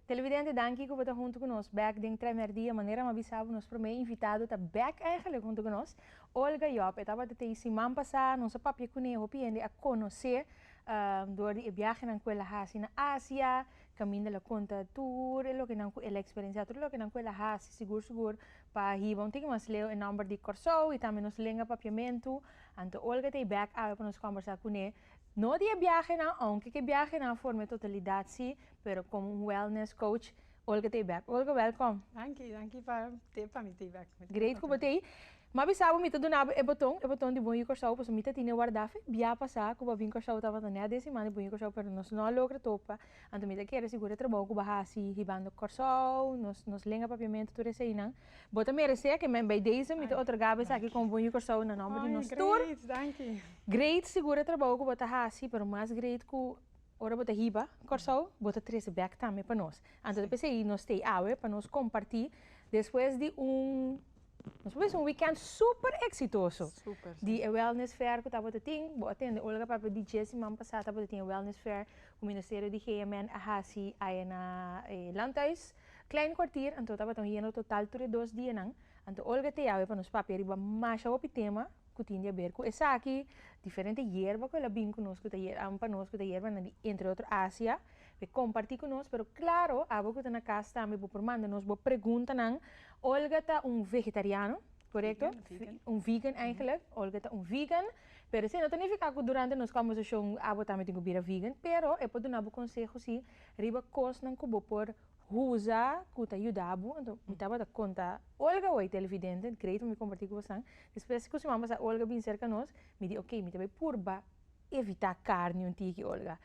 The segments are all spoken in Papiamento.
Televidente danki ku bo ta huntu ku nos bèk den Trèmer Dia. Manera mi a bisa bo nos promé invitado ta bèk eingelik huntu ku nos, Olga Job. E tabata t'ei siman pasá, nos a papia kuné, hopi hende a konos'é dor di e biahenan ku el a hasi na Asia. Caminda la conta tur e lokenan cu el a experiencia, tur e lokenan cu el a haci, sigur sigur pa hiba un tiki mas leu e nomber di Corsou y tambe nos lenga Papiamentu, anto Olga ta e bek awe pa nos combersa cune, no di e biahenan, aunke ke biahenan forma e totalidad si, pero como un wellness coach, Olga ta e bek. Olga, welcome. Danki, danki pa te pa mi ta e bek. Great cu bo ta ey. Ma bisabo mi ta dunabo e boton, e boton di bon yu Corsou paso mi ta tine warda fe bia pasa cu bo bin Corsou tabata nea den simana di bon yu Corsou pero nos no a logra topa anto mi ta kere sigur e trabou cu bo a haci hibando Corsou nos nos lenga papiamento tur eseinan bo ta merece ke men bay deze mi ta otorgabo esaki como bon yu Corsou na nomber di nos tur great sigur e trabou cu bo ta haci pero mas great cu ora bo ta hiba Corsou bo ta trece bek tambe pa nos anto ta p'esei nos stay awe pa nos comparti despues di un. Nos a bisa un weekend super exitoso di e wellness fair cu tabata tin. Bo a tende Olga papia di dje siman pasa tabata tin e wellness fair cu Ministerio di GMN a haci aya na e Landhuis Klein Kwartier. Anto tabata un yendo total tur e dos dianan. Anto Olga Theawe pa nos papia riba masha hopi tema. ku tin di aber ku esaki, diferente yerba ku el a bin ku nos ku ta yerba pa nos ku ta yerba na di entre otro Asia, e komparti ku nos, pero klaro abo ku ta na kas tambe bo por manda nos bo preguntanan, Olga ta un vegetariano, korekto? Un vegan eigenlik, Olga ta un vegan, pero esei no ta nifiká ku durante nos kombersashon abo tambe tin ku bira vegan, pero e por duna bo konseho si riba kosnan ku bo por Huza ku ta yuda bo. Anto mi tabata konta Olga wei televidente, mi krei ta mi komparti ku boso nan. Despues ku siman basa Olga bin serka nos, mi di oke, mi ta bai purba evitá karni un tiki, Olga.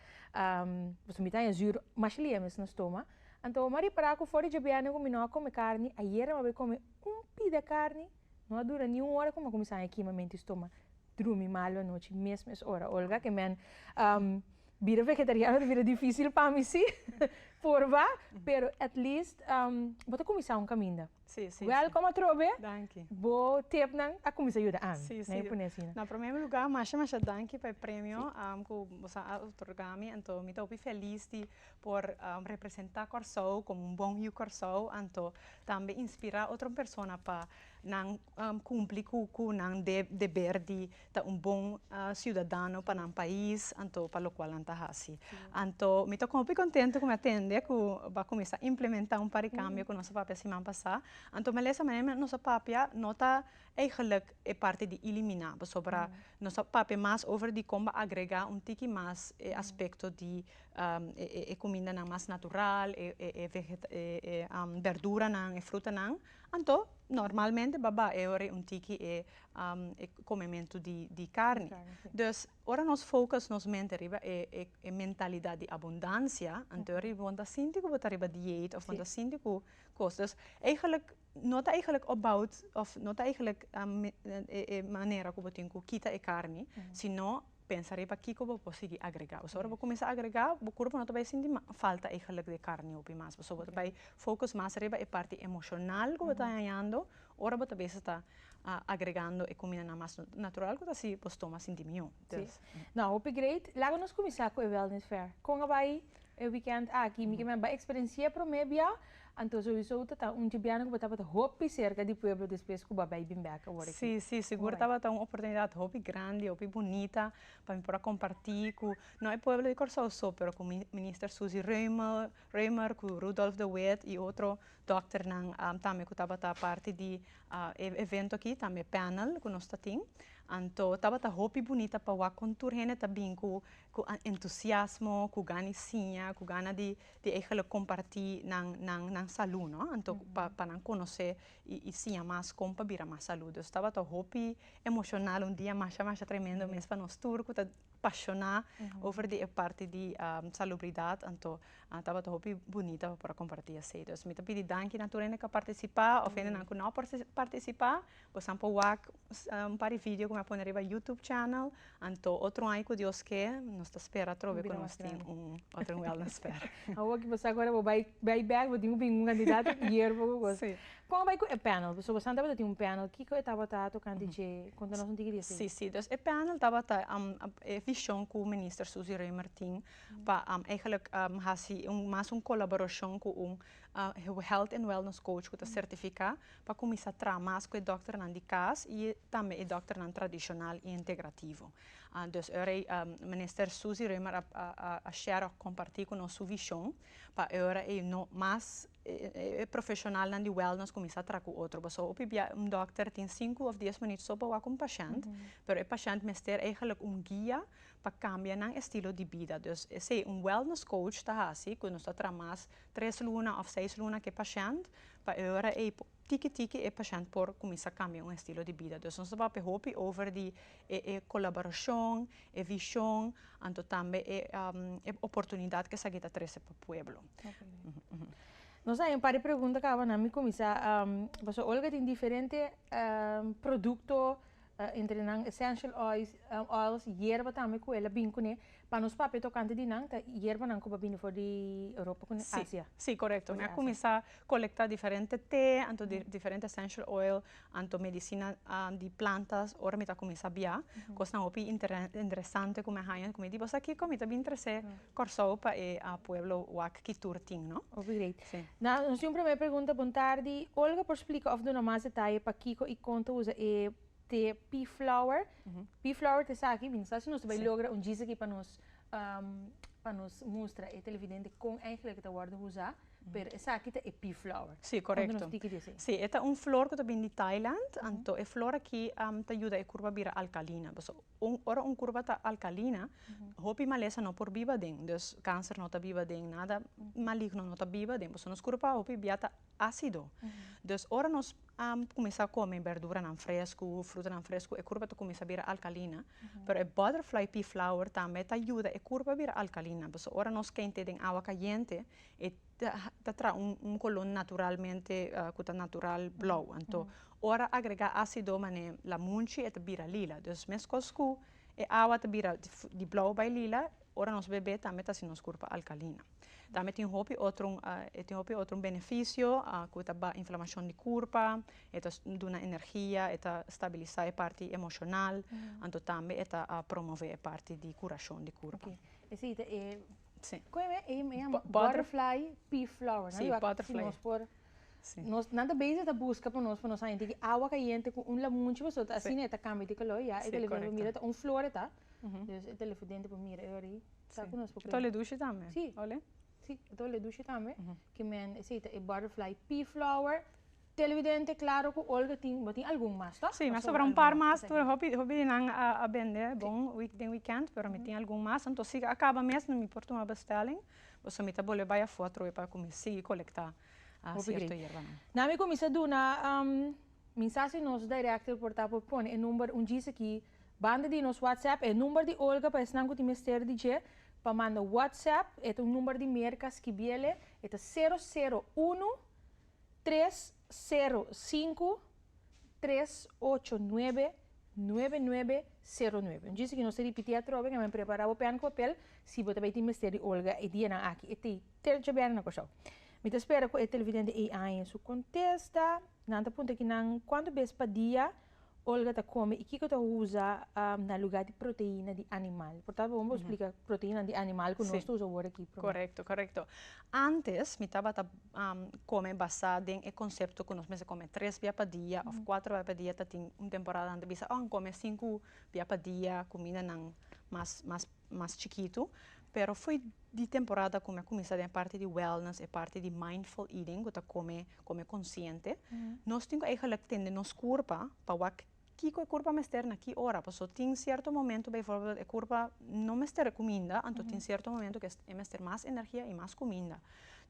Boso mita aña zür masha lia mes nos toma. Anto mi a repará ku for di djebièrnè ku mi no a kome karni, ayera mi a bai kome un pida karni, no a dura ni un ora ku mi a kuminsá aña kima, mi a menti stoma drumi malu anochi, mes mes ora, Olga, ke men Bira vegetariano ta bira dificil pa mi si por ba pero at least bo ta cuminsa un caminda welcome atrobe bo tip nan a cuminsa yuda ami lae pone asi na prome lugar masha masha danki pa e premio cu boso a otorga mi anto mi ta hopi feliz di por representa Corsou como un bon yu Corsou anto tambe inspira otro persona pa nan cumpli cu nan deber di. ta un bon ciudadano pa nan pais anto pa locual nan ta haci. Anto mi ta hopi contento cu mi a tende cu a cuminsa implementa un par di cambio cu nos a papia siman pasa, anto melesa manera nos a papia no ta eigenlijk e parti di elimina pasobra nos a papia mas over di con ba'a agrega un tiki mas e aspecto di e cumindanan mas natural e verduranan e frutanan anto normalmente ba ba'a ora un tiki e e komementu di karni. Dus ora nos focus nos mente riba e mentalidat di abundansia, anto riba bon ta sinti ku bo ta riba dieet òf bon ta sinti ku kos. Dus eigelik no ta eigelik about òf no ta eigelik e manera ku bo tin ku kita e karni, sino pensa riba kiko bo por sigui agregá. Pasobra ora bo kuminsá agregá bo kurpo no ta bai sinti falta eigelik di karni hopi mas. Pasobra bo ta bai focus mas riba e parti emoshonal ku bo ta hañando Ora bo ta bes ta agregando e kumindanan mas natural ku ta sibi bo stomak sinti mihó. No, hopi great. Laga nos kuminsá ku e wellness fair. Kon a bai e wikènt aki? Mi ke men bai eksperensiá promé bia. Anto souiso tata un djebiana ku bo tabata hopi serka di pueblo despues ku bo bai bin bèk a wòrdu aki. Sí, sí, sigur tabata un oportunidat hopi grandi, hopi bunita pa mi por a kompartí ku, no e pueblo di Kòrsou so, pero ku Minister Suzy Reumer, Raymer cu Rudolph de Wet y otro dokternan tambe cu tabata parti di e evento aki, tambe panel cu nos ta tin. Anto tabata hopi bunita pa wak con tur hende ta bin cu entusiasmo, cu gana di siña, cu gana di eigenlijk comparti nan salud, no? Anto pa nan conoce y siña mas con pa bira mas salud. Dus tabata hopi emocional, un dia masha masha tremendo mes pa nos tur cu ta pashoná over di e parti di salubridat anto tabata hopi bunita pa por a kompartí esei. Dus mi ta pidi danki na tur hende ku a partisipá òf hendenan ku nò a partisipá. Bosan por wak un par di vidio ku mi a pone riba youtube channel anto otro aña ku Dios ke nos ta spera atrobe ku nos tin un otro wèlnès fèr. Awor ku bo sa ku bo bai bèk bo tin hopi un kandidat hierbo ku bo. Kon bai ku e panel? Pasobra Sam tabata tin un panel, kiko e tabata tokante dje? Konta nos un tiki di esei. Sí, sí. Dus e panel tabata e vishon ku Minister Suzy Rey Martin pa eigelik hasi mas un kolaborashon ku un Health and Wellness Coach ku ta sertifiká pa kuminsá traha mas ku e dòkternan di kas i tambe e dòkternan tradishonal i entegrativo. Dus ora ei Minister Suzy Rey a share òf, kompartí ku nos su vishon pa e ora ei no mas e profeshonalnan di wèlnès kuminsá traha ku otro pasó hopi bia un dòkter tin sinku òf dies minüt so pa wak un pashènt pero e pashènt mester eigelik un guia pa kambia nan estilo di bida dus esei un wèlnès kouch ta hasi ku nos ta traha mas tres luna òf seis luna ku e pashènt pa e ora ei por Tiki tiki e pashènt por kuminsá kambia un estilo di bida. Dus nos ta papia hopi over di e e kolaborashon, e vishon, anto tambe e e oportunidat ku esaki ta trese pa pueblo. Nos a haña un par di pregunta kabanan. Mi kuminsá pasobra Olga tin diferente produkto. Entre nan essential oils, yerba tambe ku el a bin kuné. Pa nos papia tokante di nan ta yerbanan ku bo a bini for di Europa kuné, Asia. Si, si, korekto. Mi a kuminsá kolektá diferente te anto diferente essential oil anto medisina di plantas ora mi ta kuminsá biá. Kosnan hopi interesante ku mi a haña ku mi di, Boso a kiko mi ta bin trasé Kòrsou pa e pueblo wak ki tur tin, no? Oké. Na nos un promé pregunta Bon tardi, Olga por splika òf duna mas detaye pakiko i konta usa e te pea flower? Pea flower ta esaki, mi no sa si nos ta bai logra un djis aki pa nos pa nos mustra e televidente kon eigenlik e ta wòrdu usá, pero esaki ta e pea flower. Si, korekto. Konta nos tiki di esei. Si, e ta un flor ku ta bini di Thailand, anto e flor aki ta yuda e kurpa bira alkalina. Un ora un kurba ta alkalina hopi malesa no por biba den dus kanser no ta biba den nada maligno no ta biba den pasobra nos kurpa hopi bia ta asido dus ora nos a kuminsá kome berduranan fresku frutanan fresku e kurpa ta kuminsá bira alkalina pero e butterfly pea flower tambe ta yuda e kurpa bira alkalina pasobra ora nos kente den awa kayente e ta traha un un color naturalmente cu ta natural blauw anto ora agrega acido manera la munchi e ta bira lila dus mescos cu e awa ta bira di blauw bai lila ora nos bebe tambe ta haci nos cuerpo alcalina tambe tin hopi otro e tin hopi otro beneficio cu ta ba inflamacion di curpa e ta duna energia e ta stabilisa e parti emocional anto tambe e ta promove e parti di curacion di curpa. Sí. Con e mei, e llama Butterfly. butterfly pea flower. Sí, Luak, butterfly. Si nos por, Sí. nos, nan ta bezig ta busca pa nos, pa nos haña tiki awa cayente cu un lamunchi pasobra ta asina e ta cambia di color ya. Sí, E telefon correcto. mira ta un flor e ta. Ujú. Dus e telefon dente por mira e ora ahí. Sa cu nos por Tabata cuenta. dushi tambe. Sí. Ole. Sí, e tabata dushi tambe. Ujú. Ki men, esey ta e butterfly pea flower. Televidente claro cu Olga tin bo tin algun mas toch? Si mi a sobra un par mas tur hopi hopi di nan a a bende bon week den weekend pero mi tin algun mas anto si a caba mes no mi por tuma bestelling boso mi ta bolbe bai afo atrobe pa cu mi sigui colecta cierto hierbanan. Na mi cuminsa duna minsasi nos director por ta por pone e number un djis aki banda di nos whatsapp e number di Olga pa esnan cu tin mester di dje pa manda whatsapp e ta un number di Merca skibiele e ta sero sero uno Tres sero sinku tres ocho nuebe nuebe nuebe sero nuebe. Un djis aki nos ta ripití atrobe kaminda bo prepará bo pèn ku papel si bo ta bai tin mester di Olga e dianan aki. E ta tèltje bèren na Kòrsou. Mi ta spera ku e televidente ei a haña su kontesta. Nan ta punta ki nan kuantu bes pa dia. Olga ta come y kico ta uza na lugar di proteina di animal? Por tabata bon bo splica proteinanan di animal cu nos ta uza awor aki prome. Correcto, correcto. Antes mi tabata come basa den e concepto cu nos mester come tres bia pa dia of cuatro bia pa dia. Tatin un temporada nan ta bisa oh a come cinco bia pa dia cumindanan mas mas. mas chikitu, pero foi di temporada ku mi a kuminsá den e parti di wellness, e parti di mindful eating, ku ta kome kome konsiente. Nos tin ku eigentlik tende nos kurpa pa wak kiko e kurpa mester na ki ora. Paso tin sierto momentu beivorbel e kurpa no mester kuminda, anto tin sierto momentu ku e mester mas energia i mas kuminda.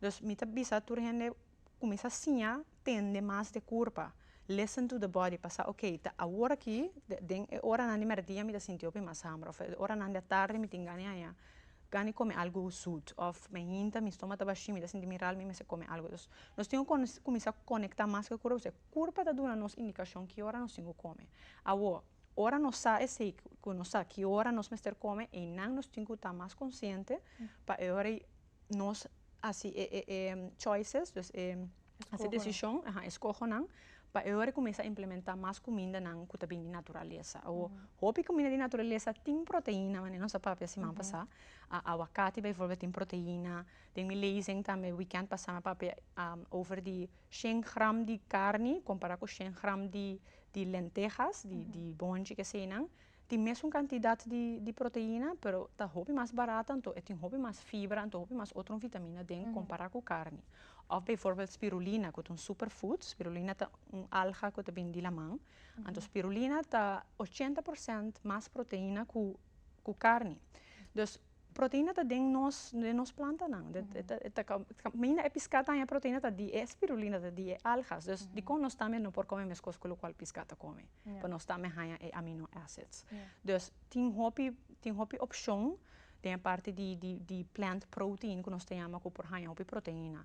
Dus mi ta bisa tur hende Kuminsá siña tende mas d'e kurpa. Listen to the body pa sa oke, ta awor aki, den e oranan di mèrdia mi ta sinti hopi mas hamber òf e oranan di atarde mi tin gana haña gana di kome algu zut òf mi hinta mi stoma ta bashí mi ta sinti mi ral mi mester kome algu. Dus nos tin ku kuminsá konektá mas ku e kurpa pasobra e kurpa ta duna nos indikashon ki ora nos tin ku kome. Awor, ora nos sa esei ku nos sa ki ora nos mester kome einan nos tin ku ta mas konsiente pa e ora ei nos hasi e e e choices, dus e hasi desishon, aha, e skohonan, pa e hora kuminsá implementá mas kumindanan ku ta bini di naturalesa. Awo, hopi kuminda di naturalesa tin proteina, manera nos a papia siman pasá. A awakati beivorbèt tin proteina, den mi lezing tambe wikènt pasá mi a papia over di shen gram di karni kompará ku shen gram di di lentehas, di di bòntje, kesenan. tin mesun kantidat di proteina pero ta hopi mas barat anto e tin hopi mas fibra anto hopi mas otro vitamina den kompara ku karni òf beivorbèlt spirulina ku ta un super food spirulina ta un alga ku ta bini di laman anto spirulina ta ochenta porsènt mas proteina ku karni dus. Proteina ta den nos den nos plantanan kaminda e piskat ta haña proteina ta di e spirulina ta di e algas dus dikon nos tambe no por kome meskos ku lokual piskat ta kome pa nos tambe haña e amino acids dus tin hopi tin hopi opshon den e parti di di di plant protein ku nos ta yama ku por haña hopi proteina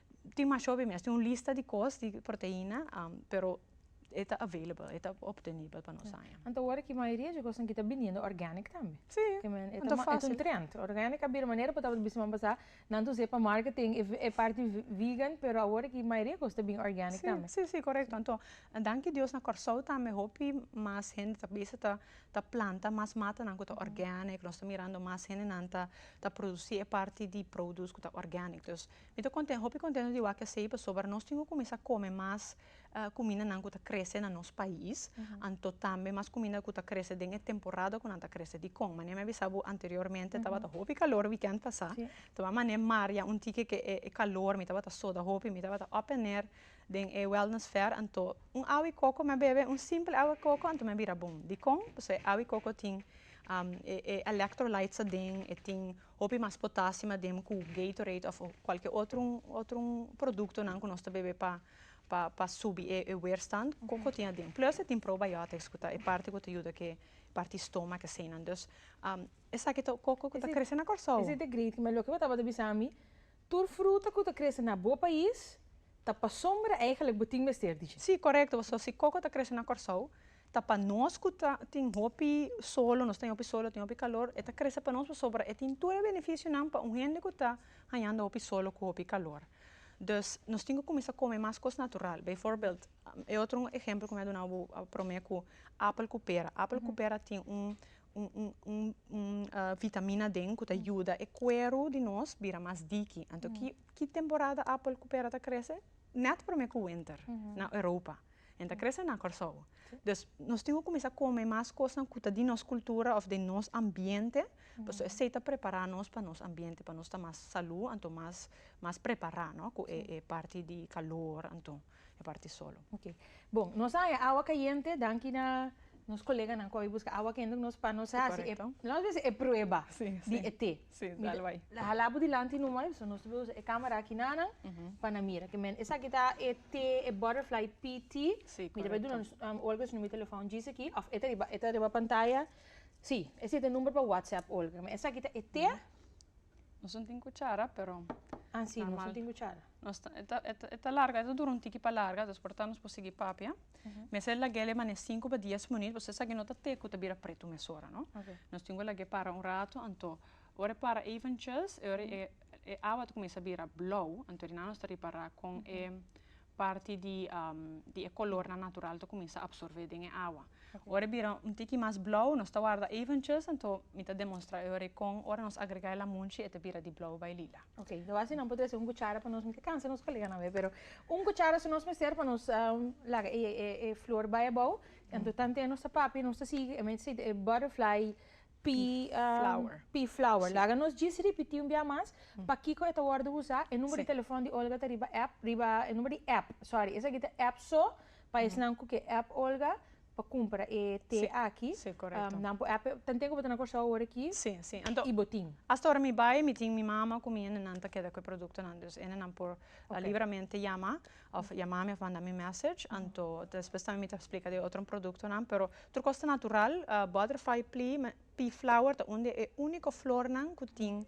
Tin masho be mes tin un lista di kos di proteina pero e ta available e ta optenibel pa nos aña. Anto awor aki mayoria di kosnan aki ta biniendo organic tambe. Si, anto ta fasil. E ta un trend. Organic a bira manera ku tabata bisti semana pasá nan ta us'é pa marketing e parti vegan pero awor aki mayoria kos ta bin organic tambe. Si, si, si korekto. Anto danki Dios na Kòrsou tambe hopi mas hende ta bisa ta planta mas matanan ku ta organic nos ta mirando mas hendenan ta produsi e parti di produs ku ta organic. Mi ta conten, hopi contento di wak esey pasobra nos tin cu cuminsa come mas cumindanan cu ta crece na nos pais, anto tambe mas cuminda cu ta crece den e temporada cu nan ta crece. Dicon? Mane mi a bisa bo anteriormente tabata hopi calor weekend pasa, toa mane mar ya un tike ke e calor mi tabata soda hopi, mi tabata op en neer den e wellness fair anto un awa di coco mi a bebe, un simple awa di coco anto mi a bira bon. Dicon? Pasobra e awa di coco tin e electrolytes aden, e tin Hopi mas potasima den cu Gatorade of cualkier otro otro producto nan cu nos ta bebe pa pa pa subi e e weerstand coco tin aden. Plus e tin probiotics cu ta e parti cu ta yuda cu e parti stomak eseinan. Dus esaki ta coco cu ta crece na Corsou. Esei ta great ma loke bo tabata bisa mi tur fruta cu ta crece na bo pais ta pa sombra eigenlijk bo tin mester diji. Si corecto, so si coco ta crece na Corsou Ta pa nos cu ta tin hopi solo nos ta tin hopi solo tin hopi calor e ta crece pa nos pasobra e tin tur e beneficionan pa un hende cu ta hañando hopi solo cu hopi calor dus nos tin cu cuminsa come mas cos natural bijvoorbeeld e otro ehempel cu mi a duna bo prome cu apel cu pera apel cu pera tin un un vitamina den cu ta yuda e cuero di nos bira mas diki anto ki temporada apel cu pera ta crece net prome cu wenter na europa En ta krese na Kòrsou. Dus nos tin ku kuminsá kome mas kosnan ku ta di nos kultura òf den nos ambiente, pasobra esei ta prepará nos pa nos ambiente, pa nos ta mas salú anto mas mas prepará, no? Ku e e parti di kalor anto e parti solo. Oke. Bon, nos a haña awa kayente danki na nos koleganan ku a bin buska awa kenduk nos pa nos hasi e, nos a bisa e prueba di e te. Sí, dal bai. Hala bo dilanti nu mai, nos ta usa e camera aki nanan pa nan mira. Esaki ta e T, e butterfly PT, mi ta bai duna Olga su numero di telefoon djis aki, of e ta riba pantaya, sí, ese ta e number pa whatsapp Olga. Esaki ta e T. Nos no tin cuchara pero normal. Ah, sí, nos no tin cuchara. nos ta e ta e ta e ta larga e ta dura un tiki pa larga dus por ta nos por sigui papia mester a lag'e lema ne sinku pa dies munit pasobra esaki no ta te ku ta bira pretu mesora no nos tin ku lag'e para un rato anto ora e para eventjes e ora e e awa ta kuminsha bira blou anto ri nan nos ta ripara kon e parti di di e kolornan natural ta kuminsha apsorbé den e awa ora e bira un tiki mas blou nos ta warda eventjes anto mi ta demonstra e ora kon ora nos agregá e lamunchi e ta bira di blou bai lila. Ok, lo hace nan por trece un cuchara pa nos mester cansa nos colega nan we, pero un cuchara su nos mester pa nos um, la e, e, e flor bai abao, ento tante nos ta papi, nos ta sigui, e mente e butterfly pea, um, flower. pea flower. Laga nos gis ripiti un bia mas, pa kiko e ta wordo usa, e numero di Sí. telefon di Olga ta riba app, riba e numero di app, sorry, esaki ta app so, pa esnan cu ke app Olga, pa cumpra e té aki. Sí, sí, corecto. Nan por app, ta n'ten cu bo ta na Corsou ahora aki? Sí, sí. Anto, y bo tin? hasta ahora mi bay, mi tin mi mama cu mi ende nan ta keda cu e productonan, dus ende nan por Ok. libremente yama, of yama mi of manda mi message, anto despues tambe mi ta splica di e otro productonan, pero tur cos ta natural, butterfly plea, me, pea flower ta un di e unico flornan cu tin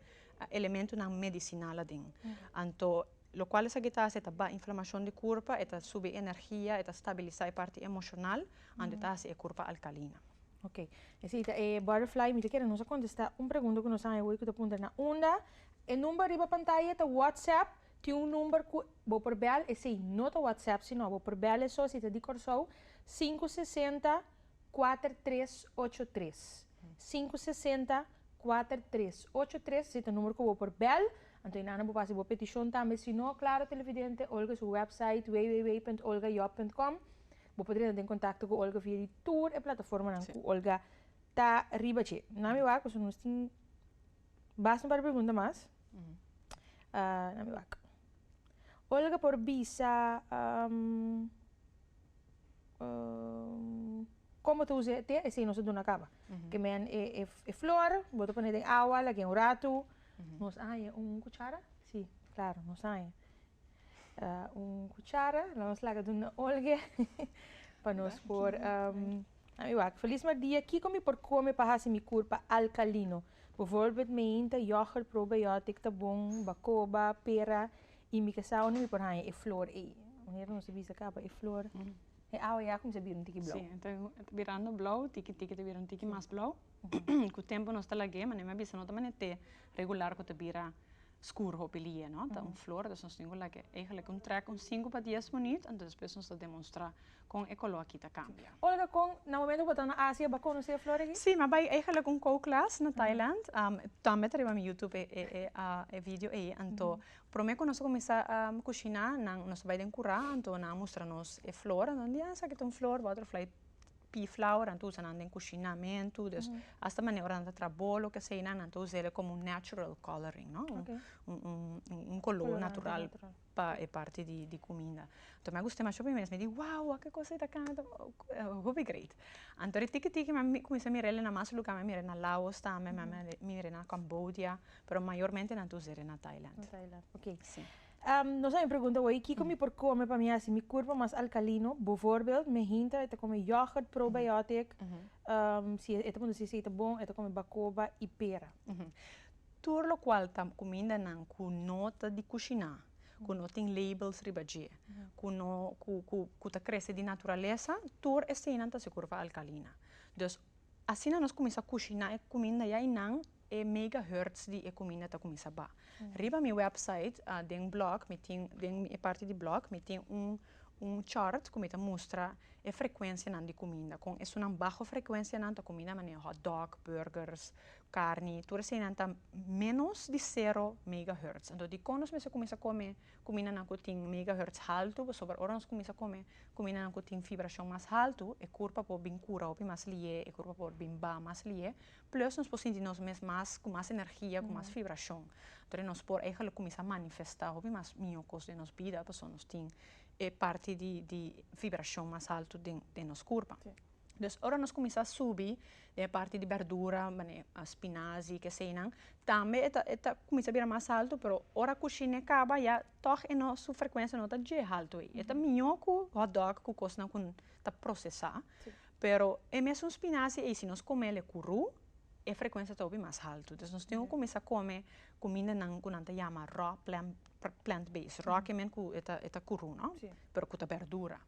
elementonan medicinal aden, anto. Lo cual esaki ta haci e ta ba inflamacion di curpa, e ta subi energia, e ta stabilisa e parti emocional, anto e ta haci e curpa alcalina. Ok. Esey ta e Butterfly. Mi ta kere nos a contesta un pregunta cu nos a haña hoy cu ta puntra na unda e number riba pantaya ta WhatsApp, tin un number cu bo por bel, esey no ta WhatsApp sino bo por bel eso si ta di Corsou, sinku sesenta, kuater tres ocho tres. Sinku sesenta, kuater tres ocho tres esey ta number cu bo por bel Anto e nana bo pasa bo peticion tambe si no Claro Televidente Olga su website www.olgajob.com Bo por renta den contacto cu Olga via di tur e plataformanan cu Olga ta riba dje. Na mi wak pasobra nos tin basta un par di pregunta mas. Na mi wak. Olga por bisa con bo ta usa e te esey nos a duna caba. Kemen e flor bo ta pone den awa lagu'e un ratu Nos a haña un kuchara? Sí, klaru, nos a haña un kuchara. La nos laga duna Olge pa nos por ami wak. Feliz Madia, kiko mi por kome pa hasi mi kurpa alkalino? Bivòrbit meinta, yògùrt, probiotic ta bon, bakoba, pera i mi ke sa unda mi por haña e flor ei. Manera nos a bisa kaba, e flor e awa ya kuminsá bira un tiki blou. Sí, e ta birando blou, tiki tiki ta bira un tiki mas blou. Ku tempu nos ta lag'é, manera mi a bisa, no ta manera te regular ku ta bira skur hopi li'é, no? Ta un flor, dus nos tin ku lag'é. Eigelik un trèk, un sinku pa dies munit, anto despues nos ta demonstrá kon e koló akí ta kambia. Olga, kon na momentu ku bo ta na Asia bo a konosé e flor akí? Sí, mi a bai eigelik un kou klas na Thailand. Tambe ta riba mi YouTube e e video ei. Anto promé ku nos a kuminsá kushiná, nan, nos a bai den kurá, anto nan a mustra nos e flor. Nan di, ah, esaki ta un flor, butterfly piflau nan ta usa nan den kushinamentu dus asta manera ora nan ta traha bolo keseinan nan ta usa el komo un natural coloring no un kolo natural pa e parti di kuminda anto mi a gusta demasiado pasobra mi mesma a di wow wak e kos ei ta kana ta hopi great anto ri tiki tiki mi a kuminsha mira el na mas lugar mi a mira el na laos tambe mi a mira el na cambodia pero mayormente nan ta usa el na thailand. Nos a bin pregunta hoy kico mi por come pa mi haci mi cuerpo mas alcalino. Bovoorbeeld me hinter e ta come yoghurt probiotic, si e ta conduci si e ta bon, e ta come bacoba y pera. Tur locual ta cumindanan cu no ta di cushina, cu no tin labels riba dje, cu no cu ta crece di naturaleza, tur eseinan ta sigur pa alcalina. Dus Asina nos cuminsa cushina e cuminda ya y nan e megahertz di e cuminda ta cuminsa ba. Riba mi website den blog mi tin den e parti di blog mi tin un un chart cu mi ta mustra e frecuencianan di cuminda con esunnan baho frecuencianan ta cuminda manera hotdog, burgers, carni tur eseinan ta menos di cero megahertz entonces dicon nos mester cuminsa come Kumindanan ku tin megahertz haltu pasobra ora nos kuminsá kome kumindanan ku tin fibrashon mas haltu e kurpa por bin kura hopi mas lié, e kurpa por bin ba mas lié, plus nos por sinti nos mes mas ku mas energia, ku mas fibrashon. Anto nos por eigelik kuminsá manifestá hopi mas mió kos den nos bida pasobra nos tin e parti di di fibrashon mas haltu den nos kurpa. Des ora nos cuminsa subi den e parti di berdura mane spinazi y kesenan tambe e ta e ta cuminsa bira mas alto pero ora cushine caba ya toch e no su frecuencia no ta dje alto y e ta mijo cu hotdog cu cosnan cu ta procesa pero e mesun spinazi ey si nos comel e curu e frecuencia ta hopi mas alto dus nos tin cu cuminsa come cumindanan cu nan ta yama raw plant base raw kimen cu e ta curu no pero cu ta berdura.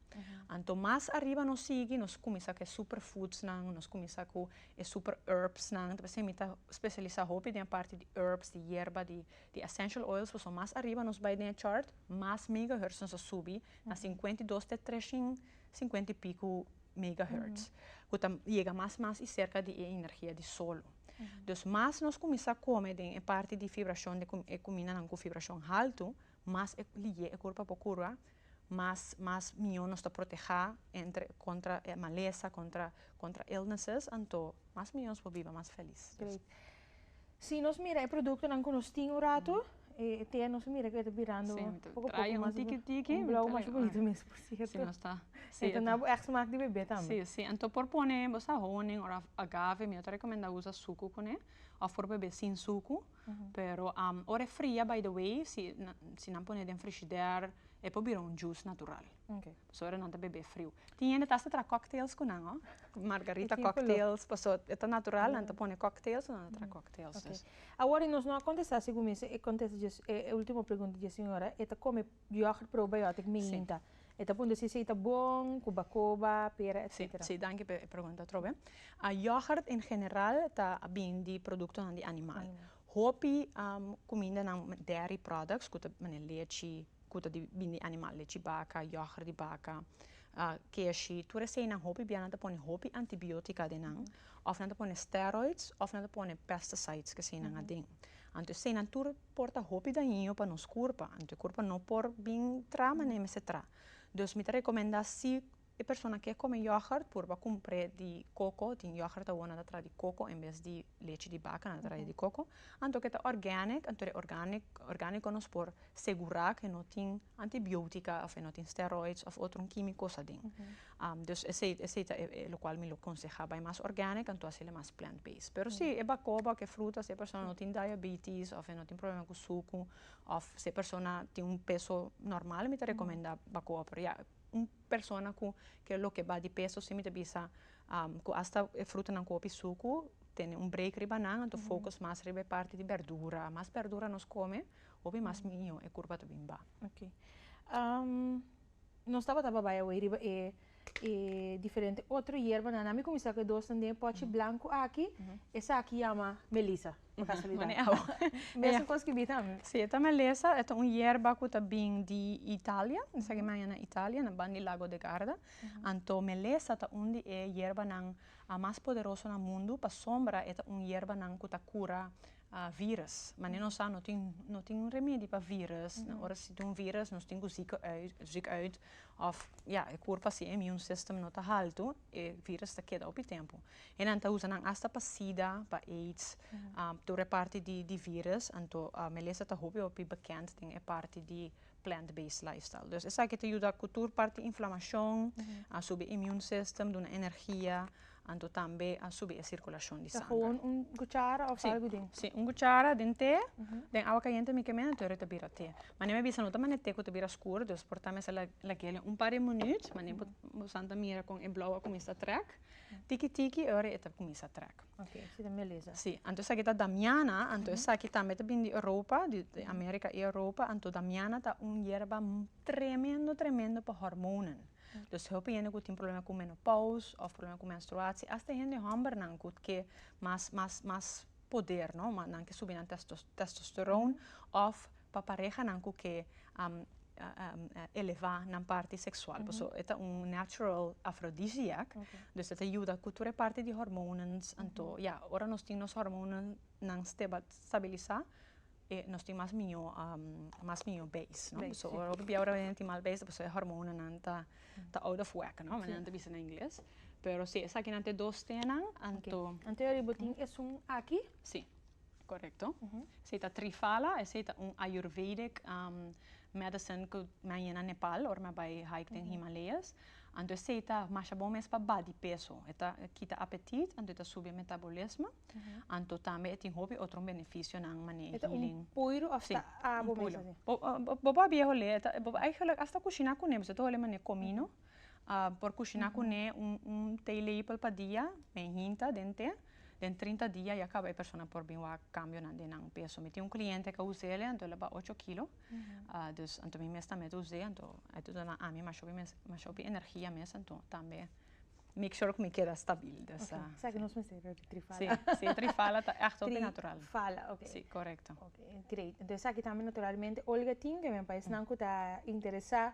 Anto mas ariba nos sigui nos cuminsa cu e super foods nan, nos cuminsa cu e super herbs nan, ta pasobra mi ta specialisa hopi den e parti di herbs, di yerba, di essential oils, pasobra mas ariba nos bay den e chart mas megahertz nos a subi na cincuenta y dos te trecin cincuenta y pico megahertz cu ta yega mas mas y cerca di e energia di solo. Dus mas nos cuminsa come den e parti di fibracion, e cumindanan cu fibracion halto Mas e liye e kurpa bo kurba, mas mas mihó nos ta protehá entre kontra e malesa, kontra kontra illnesses, anto mas mihó nos por biba mas felis. Great. Si nos mira e produktonan ku nos tin un ratu, e e tea nos mira ku e ta birando un poko poko mas un blou mas bonito mes por sierto. E ta na bo èk smak di bebé tambe. Si si anto por pone bosa honing òf agave, mihó ta rekomendá usa suku kuné òf por bebé sin suku. Pero ora e fria by the way si si nan pone den frishider e por bira un juice natural paso ora nan ta bebe friu tin hende ta hasta traha cocktails cu nan ho margarita cocktails paso e ta natural nan ta pone cocktails o nan ta traha cocktails awor nos no a contesta si cuminsa e contesta dje e ultimo pregunta dje siñora e ta come Yoghurt probiotic mi hinta e ta puntra si esei ta bon cu bacoba, pera etc. Si si danki pe e pregunta atrobe. Yoghurt en general ta bin di productonan di animal. Hopi cumindanan dairy products cu ta manera lechi cu ta di bin di animal lechi baca, yoghurt di baca, keshi tur esei nan hopi bia nan ta pone hopi antibiotica den nan of nan ta pone steroids of nan ta pone pesticides ke esei nan aden anto esei nan tur por ta hopi dañino pa nos kurpa anto e kurpa no por bin tra manera e mester tra dus mi ta rekomendá si e persona ke kome yògùrt purba kumpré di koko tin yògùrt awor nan ta tra di koko en bes di lechi di baka nan ta tra di koko anto ke ta organic anto e organic organico nos por segurá ke no tin antibiotica of e no tin steroids of otro kimiko's aden Dus esei esei ta e e lokual mi lo konsehá bai mas organic anto hasiel e mas plant based. Pero si e bakoba òf e fruta si e persona no tin diabetes òf e no tin problema ku suku òf si e persona tin un peso normal mi ta rekomendá bakoba pero ya un persona ku ke loke ba di peso si mi ta bisa ku hasta e frutanan ku hopi suku tene un break riba nan anto focus mas riba e parti di bèrdura a mas bèrdura nos kome hopi mas miño e kurba ta bin ba. Nos tabata babai awey riba e diferente otro yerbanan. Nan mi kuminsá ku e dos nan den e pòchi blanku aki. Esaki yama melisa, pa kasualidat. Mane awo. Mesun kos ku bita ami. Si, e ta melesa. E ta un yerba ku ta bin di Italia. Esaki maya na Italia, na ban di Lago de Garda. Anto melesa ta un di e yerbanan mas poderoso na mundu. Pasobra e ta un yerbanan ku ta kura a virus mane nos sa no tin no tin un remedi pa virus na ora si ta un virus nos tin cu ziek uit ziek uit of ya e curpa si e immune system no ta haltu e virus ta keda hopi tempo e nan ta usa nan asta pa sida pa aids tur e parti di di virus anto melessa ta hopi hopi bekend den e parti di plant-based lifestyle. Dus esaki ta yuda ku tur parti inflamashon, a subi immune system, duna energia, anto tambe a subi e sirkulashon di sanger. Ta hon un kuchara òf algu den? Si, un kuchara den te, den awa kayente mi kemena anto yoru ta bira te. Mane mi a bisa no ta mane te ku ta bira skur, dus por ta mester lakiel un par di minüt, mane bo san ta mira kon e blou a kuminsha trèk. Tiki tiki e ora e ta kuminsá trèk. Sí, anto esaki ta damiana, anto esaki tambe ta bini di Europa, di Amérika i Europa, anto damiana ta un yerba tremendo tremendo pa hòrmonan. Dus hopi hende ku tin problema ku menopous òf problema ku menstruatie, asta hende hòmbernan ku ke mas mas mas poder, no, nan ke subi nan tèstòstòron òf. pa parehanan ku ke a elevá nan parti seksual paso e ta un natural aphrodisiac dus e ta yuda ku tur e parti di hormones anto ya ora nos tin nos hormonnan stabilisá e nos tin mas mió mas mió beis no so ora bo ta bia ora bo tin mal beis paso e hormonnan ta out of whack no manera nan ta bisa na ingles pero si esakinan ta e dos tenan anto. Anto yari bo tin esun aki? Si. Correcto. Esey ta Triphala, esey ta un Ayurvedic medicine cu mi a yen na Nepal ora mi a bay hike den Himalayas. Anto esey ta masha bon mes pa badi peso. E ta kita apetit, anto e ta subi e metabolismo, anto tambe e tin hopi otro beneficionan mane healing. E ta un puiru of ta abo mes así? Bo por a biaholé, bo por eigenlijk hasta cushina cune, bo ta holé mane comino. A por kushiná kuné un te leípel pa dia, men hinta den te. Den trinta dia ya kaba e persona por bin wak kambionan den nan peso. Mi tin un kliente ke a us'é el, anto el a baha ocho kilo. Dus anto mi mes tambe ta us'é, anto e ta duna ami mashopi mes, mashopi energia mes, anto tambe make sure ku mi keda stabil. Dus a. Sa ke nos mester trifala. Sí, sí, trifala ta ègt hopi natural. Trifala, ok. Sí, korekto. Ok, great. Entonces esaki tambe naturalmente Olga tin, ku e men paisnan ku ta interesá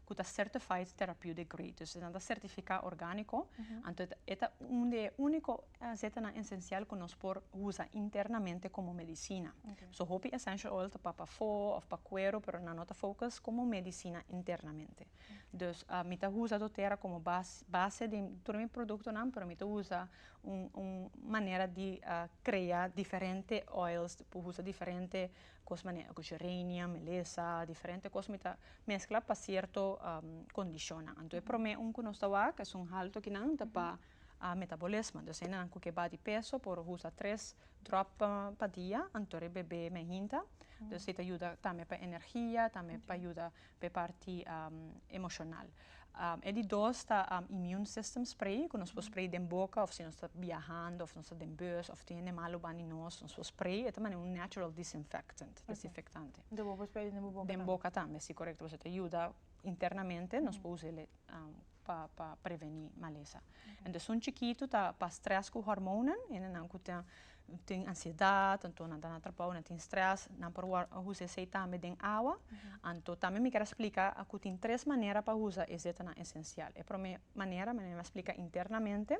cu ta certified therapeutic grade, dus esnan ta certifica organico, anto e ta un di e unico aceitanan esencial cu nos por usa internamente como medicina. So hopi essential oil ta pa pafo of pa cuero pero nan no ta focus como medicina internamente. Dus mi ta usa dotera como base di tur mi productonan pero mi ta usa un manera di crea diferente oils, ta usa diferente Kos manera ku geranium, melesa, diferente kos mi ta meskla pa sierto kondishonnan. Anto e promé un ku nos ta wak es un hal tokinan ta pa metabolismo. Entonces hennan ku ke ba di peso por usa tres dròp pa dia anto di e bebé me hinta. Si ta yuda tambe pa energia, tambe pa yuda P'e parti emoshonal. E di dos ta immune system spray ku nos por spray den boka òf si nos ta biahando òf nos ta den bus òf tin hende malu bandi nos, nos por spray. E ta manera un natural disinfectant, desinfektante. Enton bo por spray'e den bo boka tambe? Den boka tambe, si korekto. Pasobra ta yuda internamente, nos por usa el. pa pa preveni malesa antes un chikitu ta pa stress ku hormonan hendenan ku ta tin ansiedat anto nan ta na trabou nan tin stress nan por wòrd a usa esei tambe den awa anto tambe mi ker a splika ku tin tres manera pa usa e setanan esencial e promé manera mi a splika internamente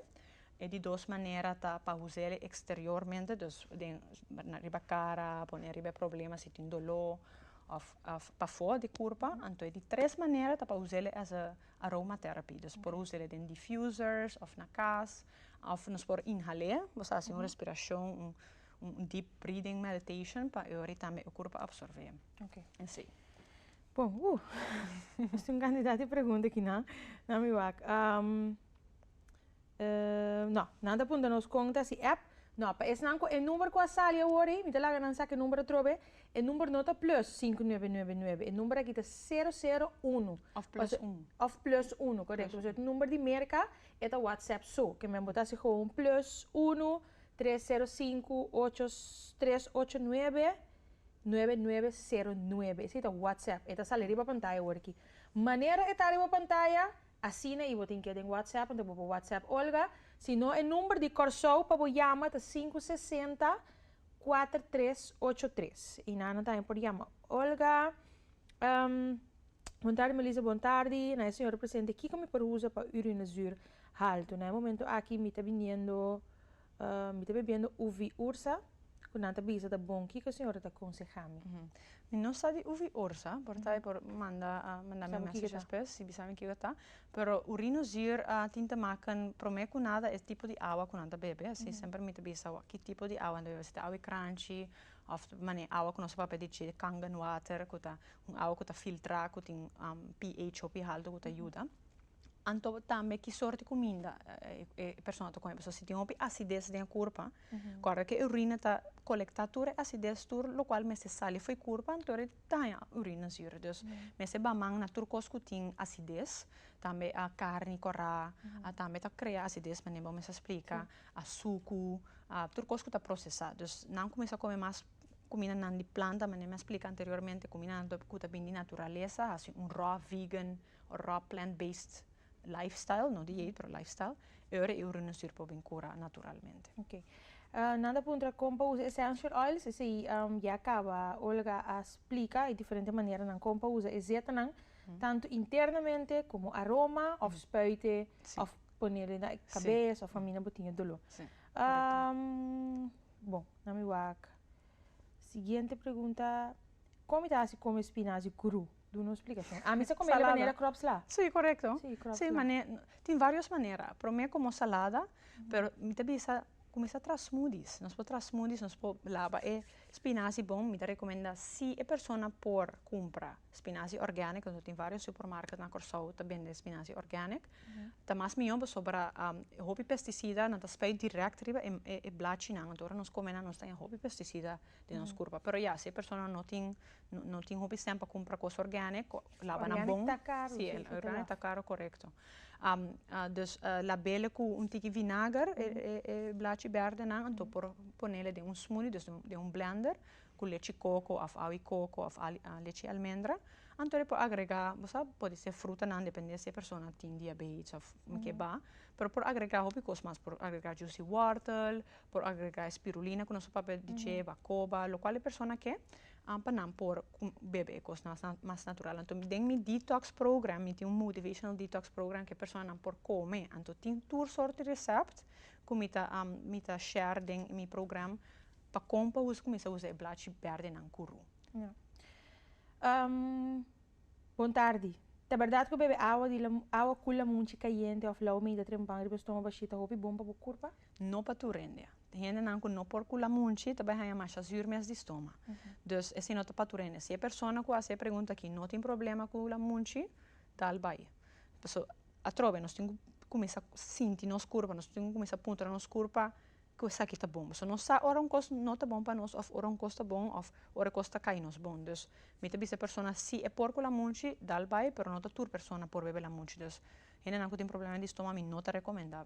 e di dos manera ta pa usa el exteriormente dus den riba cara pone riba e problema si tin dolo. Of pa for di kurpa, anto e di tres manera ta pa usele as a aroma therapy. Dus por usele den diffusers of na kas, of nos por inhalé, boso hasi un respirashon, un deep breathing meditation pa e ori tambe e kurpa absorbé. Esei. Bon, ooh. Nos tin un kantidat di pregunta aki nan. Nami wak. No, nan ta punta nos con ta si app. No, pa esnan cu e number cu a sali awor ey, mi ta laga nan saca e number atrobe. E number no ta plus sinku nuebe nuebe nuebe, e number aki ta sero sero unu. Of plus un. Of plus unu, correcto. Pasobra e number di Merca e ta WhatsApp su. Ke men bo ta haci gewoon plus unu tres sero sinku ocho tres ocho nuebe nuebe nuebe sero nuebe. Esey ta WhatsApp. E ta sali riba pantaya awor aki. Manera e ta riba pantaya. Asina i bo tin ke den WhatsApp anto bo por WhatsApp Olga, si no e number di Kòrsou pa bo yama ta sinku sesenta kuater tres ocho tres i nan tambe por yama Olga Bon tardi Melissa bon tardi na e señora presente kiko mi por usa pa urinazüür haltu na e momentu aki mi ta biniendo Mi ta bebiendo uvi ursa cu nan ta bisa ta bon. Kico señora ta aconseha mi? Mi no sa di uvi ursa, por ta e por manda manda mi message despues si bisa mi kico ta. Pero urino zuur a tin te maken prome cu nada e tipo di awa cu nan ta bebe. Asi semper mi ta bisa wak ki tipo di awa nan ta bebe. Si ta awa crunchy of mane awa cu nos ta papia di dje di kangen water cu ta un awa cu ta filtra cu tin pH hopi halto cu ta yuda. Anto tambe ki sort di kuminda e persona ta kome? Si tin hopi asides den e kurpa, kòrda ku e urina ta kolektá tur e asides tur lokual mester sali for e kurpa anto e daña e urina si. Dus mester ba man na tur kos ku tin asides, tambe a karni korá, a tambe ta krea asides manera bo mester a splika, a suku, a tur kos ku ta prosesá. Dus nan kuminsá kome mas kumindanan di planta manera mi a splika anteriormente, kumindanan ku ta bini di naturalesa, hasi un rò vegan. Raw plant based lifestyle, no dieet pero lifestyle, ora e urunusur por bin cura naturalmente. Ok. Nan ta puntra con pa usa essential oils, esey ya caba Olga a splica e diferente maneranan con pa usa e zetanan, tanto internamente como aroma of spuite of pone den e cabes of famina bo tin e dolor. Si, correcto. Bon, nan mi wak siguiente pregunta, con mi ta haci con mi spinaci cru? Duna un splikashon. Ami sa komé de manera kròps la. Sí, korekto. Sí, kròps la. Sí, man'e tin vários manera. Promé komo salada, pero mi ta bisa kuminsá tra smoodies. Nos por tra smoodies, nos por laba e spinasi bon. Mi ta rekomendá si e persona por kumpra spinasi organic, pasobra tin vários supermarket na Kòrsou ta bende spinasi organic, ta mas mihó pasobra hopi pesticida nan ta spei dirèkt riba e blachinan. Anto ora nos kome nan nos tené hopi pesticida den nos kurpa. Pero ya, si e persona no tin No tin hopi sent pa cumpra cos organic cu laba nan bon. Organic ta caro. Si organic ta caro corecto. Dus labele cu un tiki vinager e blachi berde nan anto por ponele den un smoothie dus den un blender cu lechi coco of awi coco of lechi almendra anto e por agrega bosa pudi ser fruta nan depende si e persona tin diabetes of ke ba pero por agrega hopi cos mas por agrega juicy wortel por agrega spirulina cu nos papia di ceba coba locual e persona ke An pa nan por bebe e kosnan mas natural anto den mi detox program mi tin un motivational detox program ku e personanan por kome anto tin tur sort di resept ku mi ta mi ta share den mi program pa kon pa usa kuminsá usa e blachi bèrdenan ku ru Bon tardi. Ta berdad cu bebe awa di la awa cu la munchi cayente of lau meida trempan riba stoma bashi ta hopi bon pa bo curpa? No pa tur hende. Te hendenan cu no por cu la munchi ta bay haya masha zuur mes di stoma. Dus esi no ta pa tur hende. Si e persona cu haci e pregunta aki no tin problema cu la munchi tal bay. Pasobra atrobe nos tin cu cuminsa sinti nos curpa, nos tin cu cuminsa puntra nos curpa cu esaki ta bon. So nos sa ora un cos no ta bon pa nos of ora un cos ta bon of ora cos ta cay nos bon. Dus mi ta bisa e persona si e por cu lamunchi dal bay pero no ta tur persona por bebe lamunchi dus hendenan cu tin problema di stoma mi no ta recomenda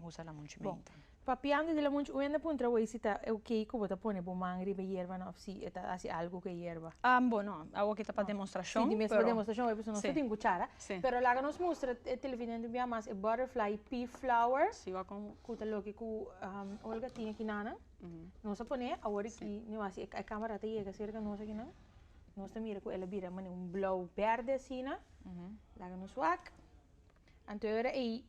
usa lamunchi menta. Papiando di lamunchi un hende puntra awey si ta ok cu bo ta pone bo man riba e yerba no of si e ta haci algo cu e yerba. Bo no awo aki ta pa demostracion pero. Si di mes pa demostracion awey pasobra nos ta tin cuchara pero laga nos mustra e televidente bia mas e butterfly pea flower. Si wak con. Cu ta loke cu Olga tin aki na nan? Nos a pone awor e ki, mi wasi e camera a ta yega cerca nos aki nan, nos ta mira cu el a bira mane un blauw berde asina, laga nos wak, anto e ora ey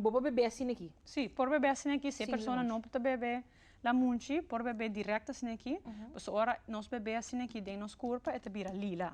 bo por bebe asina aki? Si, por bebe asina aki, si e persona no ta bebe lamunchi, por bebe direct asina aki, pasobra ora nos bebe asina aki den nos curpa e ta bira lila.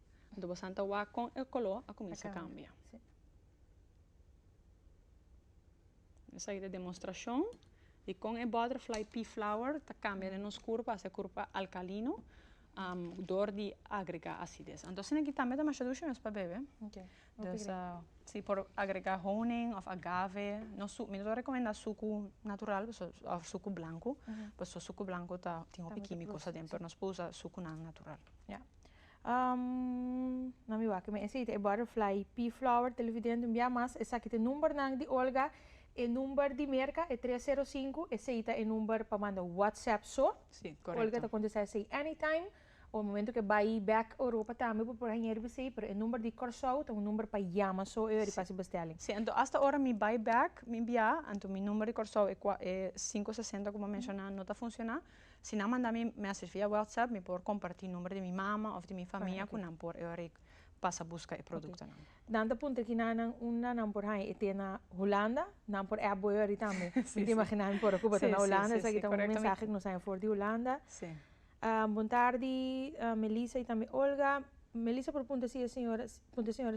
Anto bo san ta wak kon e koló a kuminsá kambia. Esaki ta e demostrashon di kon e butterfly pea flower ta kambia den nos kurpa, ta hasi e kurpa alkalino dor di agregá asides. Anto asina ki tambe ta masha dushi mes pa bebe. Dus si por agregá honing òf agave, no su, mi no ta rekomendá suku natural pasobra, òf suku blanku, pasobra suku blanku ta tin hopi kímiko's aden, pero nos por usa sukunan natural. na mi wak me esey ta e butterfly pea flower te lifi dent un bia mas esaki ta e number nan di olga e number di merca e tres sero sinku esey ta e number pa manda whatsapp so olga ta contesta esey any time o e momento ke bay back europa tambe bo por hañeri bisey pero e number di corsou ta un number pa yama so e ora di fasi bestelling. Si anto hasta ora mi bay back mi bia anto mi number di corsou e cinco sesenta como a menciona no ta funciona. Si nan manda mi message via WhatsApp mi por comparti number di mi mama of di mi famia cu nan por ehorik pasa busca e productonan. Nan ta puntra aki na nan unda nan por haña e te na Hulanda? Nan por app bo ehorik tambe. Mi ta imagina mi por ocupa ta na Hulanda esaki ta un mensahe cu nos haña for di Hulanda. Bon tardi Melissa y tambe Olga. Melissa por puntra si e señora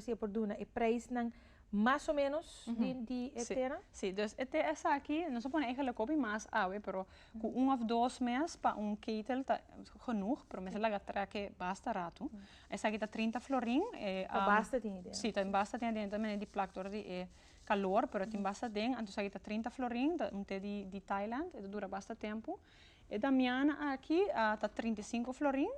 si e por duna e prijsnan. Mas o menos di e tera? Sí, dus e tera esaki, nos a pone e helikopter mas awe, pero cu un of dos mes pa un ketel ta genoeg, pero mester laga treke basta ratu. Esaki ta trinta florin. Ta basta den adentro. Sí, ta basta den adentro manera di plak door di e calor, pero tin basta den, anto esaki ta trinta florin, ta un te di Thailand, e ta dura basta tempo. E damiana aki ta trinta i sinku florin,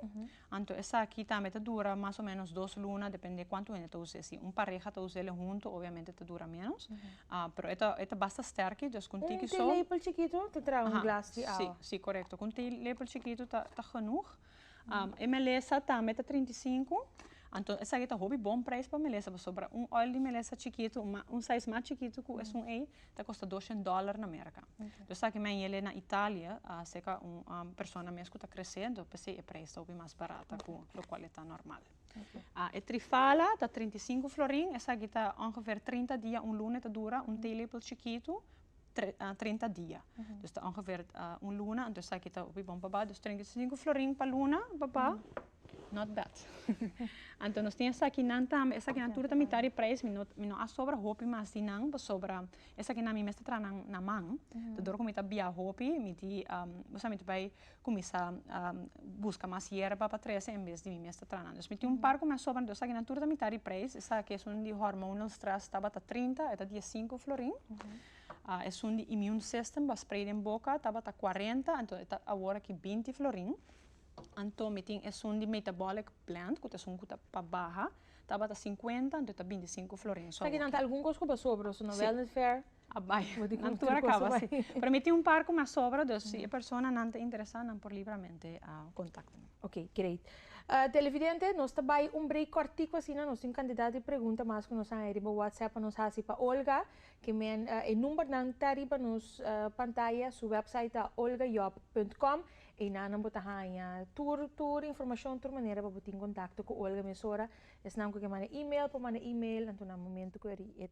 anto esaki tambe ta dura mas o menos dos luna, depende kuantu hende ta usa e. Si un pareha ta usa e huntu obviamente ta dura menos, pero e ta e ta basta stèrk, dus ku un tiki so. Un te lepel chikitu ta traha un glas di awa. Si, si korekto. Ku un te lepel chikitu ta genoeg. E melesa tambe ta trinta i sinku. Anto esaki ta hopi bon prijs pa melesa pasobra un oil di melesa chikitu, un sais mas chikitu ku esun ei ta kosta doshen dòler na Merka. Anto esaki men yele na Italia a seka un persona mes ku ta kresé anto p'esei e prijs ta hopi mas barat aku lokual e ta normal. E trifala ta trinta i sinku florin, esaki ta ongever trinta dia un lune ta dura un tea lepel chikitu. trinta dia. Dus ta ongeveer un luna, anto esaki ta hopi bon pa ba. Dus trinta i sinku florin pa luna pa ba, not bad. Anto nos tin esakinan tambe, esakinan tur ta mitar di prijs, mi no mi no a sobra hopi mas di nan, pasobra esakinan mi mes ta traha nan na man, ta dor ku mi ta bia hopi, mi di mi ta bai Cuminsa busca mas yerba pa trece en bes di mi mes ta tranan. Dus mi tin un par cu mi a sobra entonces esaki nan tur ta mitad di prijs. Esaki esun di hormonal stress tabata trinta e ta dies cinco florin. Esun di immune system ba spray den boca tabata cuarenta anto e ta awor aki binti florin. Anto mi tin esun di metabolic blend cu ta esun cu ta pa baha tabata cincuenta anto e ta binti cinco florin. Esaki nan ta algun cos cu ba sobra su na wellness fair. A bai, nan tur a kaba si. Pero mi tin un par ku mi a sobra, dus si e personanan ta interesá nan por libramente kontakta mi. Ok, great. Televidente, nos ta bai un break kòrtiku asina, nos tin un kantidat di pregunta mas ku nos a haña riba whatsapp pa nos hasi pa Olga, ke men e numbernan ta riba nos pantaya, su wèpsait ta olgajob punt com, einan nan bo ta haña tur tur informashon, tur manera pa bo tin kontakto ku Olga mesora, esnan ku ke manda email por manda email, anto na momentu ku e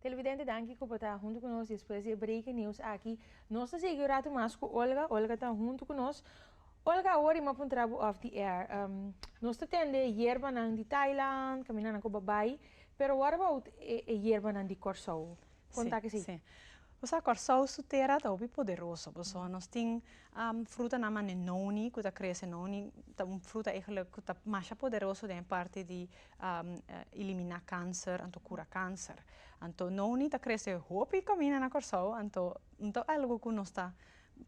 Televidente danki ku por ta huntu ku nos despues di e breaking news aki. Nos ta sigui un ratu mas ku Olga. Olga ta huntu ku nos. Olga, awor i m'a puntra bo off the air. Um, nos ta tende yerbanan di Thailand, kaminda nan ko babai. Pero what about e, e yerbanan di Kòrsou? Kon ta akesei? Sí, sí. Bo sa Kòrsou su tera ta hopi poderoso, pasobra nos tin um frutanan manera noni ku ta krese noni. Ta un fruta eigenlijk ku ta masha poderoso den e parti di a eliminá kanser, anto kura kanser. Anto nou ni ta krese hopi kaminda na Kòrsou, anto no ta algu ku nos ta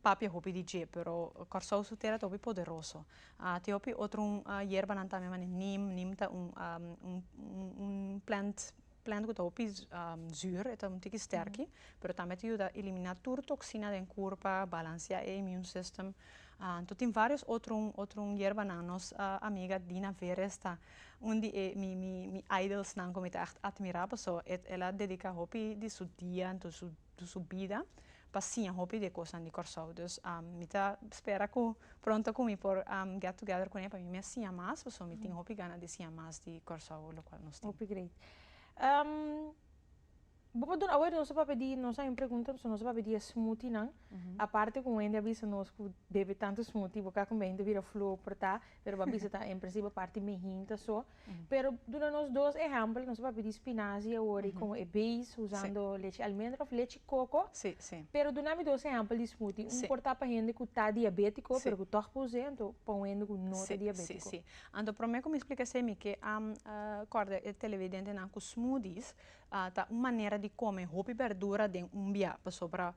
papia hopi di dje, pero Kòrsou su tera ta hopi poderoso. A tin hopi otro yerbanan tambe manera nim, nim ta un un un plant Plant ku ta hopi zùr e ta un tiki stèrki pero tambe e ta yuda eliminá tur toksina den kur pa balansiá e immune system. Anto tin vários otro otro yerbanan nos amiga Dina Veres ta un di e mi mi mi idolsnan ku mi ta ègt atmirá pasó el a dediká hopi di su dia, su di su bida pa siña hopi di e kosnan di Kòrsou. Dus mi ta spera ku pronto ku mi por get together kuné pa mi mes siña mas pasobra mi tin hopi gana di siña mas di Kòrsou lokual nos tin. Hopi great. Bo por duna awer nos a papia di nos a haña un pregunta pasobra nos a papia di e smoothienan aparte ku Wendy a bisa nos ku bebe tantu smoothie bo ka kumbiahintu bira flu o por ta pero bo a bisa ta en principio aparte di mehín ta so Pero duna nos dos ehèmpel, nos a papia di spinazi awor i kon e bees usando lechi almendra òf lechi koko. Pero duna mi dos ehèmpel di smoothie, un por ta pa hende ku ta diabétiko pero ku tòg pa us'é, anto pa un hende ku no ta diabétiko. Sí, sí. Anto promé ku mi splika esei mi ke a kòrda e televidentenan ku smoothies ta un manera di kome hopi bèrdura den un bia. Pasobra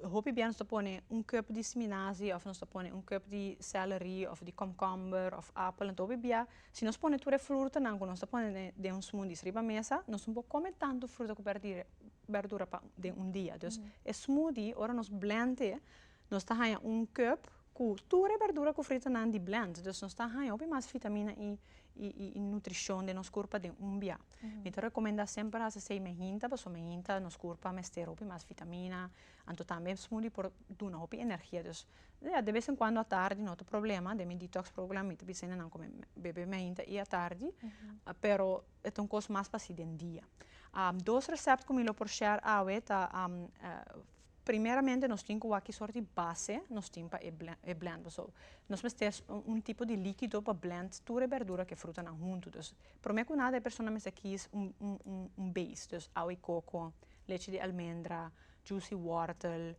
hopi bia nos ta pone un kùp di spinazi òf nos ta pone un kùp di sèlere òf di kòmkòmber òf apel. Anto hopi bia Si nos pone tur e frutanan ku nos ta pone den un smoothies riba mesa, nos no por kome tantu fruta ku bèrdura pa den un dia. Dus e smoothie ora nos blènt e, nos ta haña un kùp ku tur e bèrdura ku frutanan di blènt. Dus nos ta haña hopi mas fitamina i i nutrishon den nos kurpa den un bia. Mi ta rekomendá semper hasi asei me hinta pasobra me hinta nos kurpa mester hopi mas fitamina. Anto tambe smoothie por duna hopi energia dus ya de bes en cuando atardi no ta problema den mi detox program mi ta bisa nan cu mi bebe mainta y atardi pero e ta un cos mas pa haci den dia dos recept cu mi lo por share awe ta primeramente nos tin cu aki soort di base nos tin pa e blend pasobra nos mester un tipo di liquido pa blend tur e berdura cu e frutanan hunto dus prome cu nada e persona mester kies un base dus awe coco leche di almendra. Juicy wortel,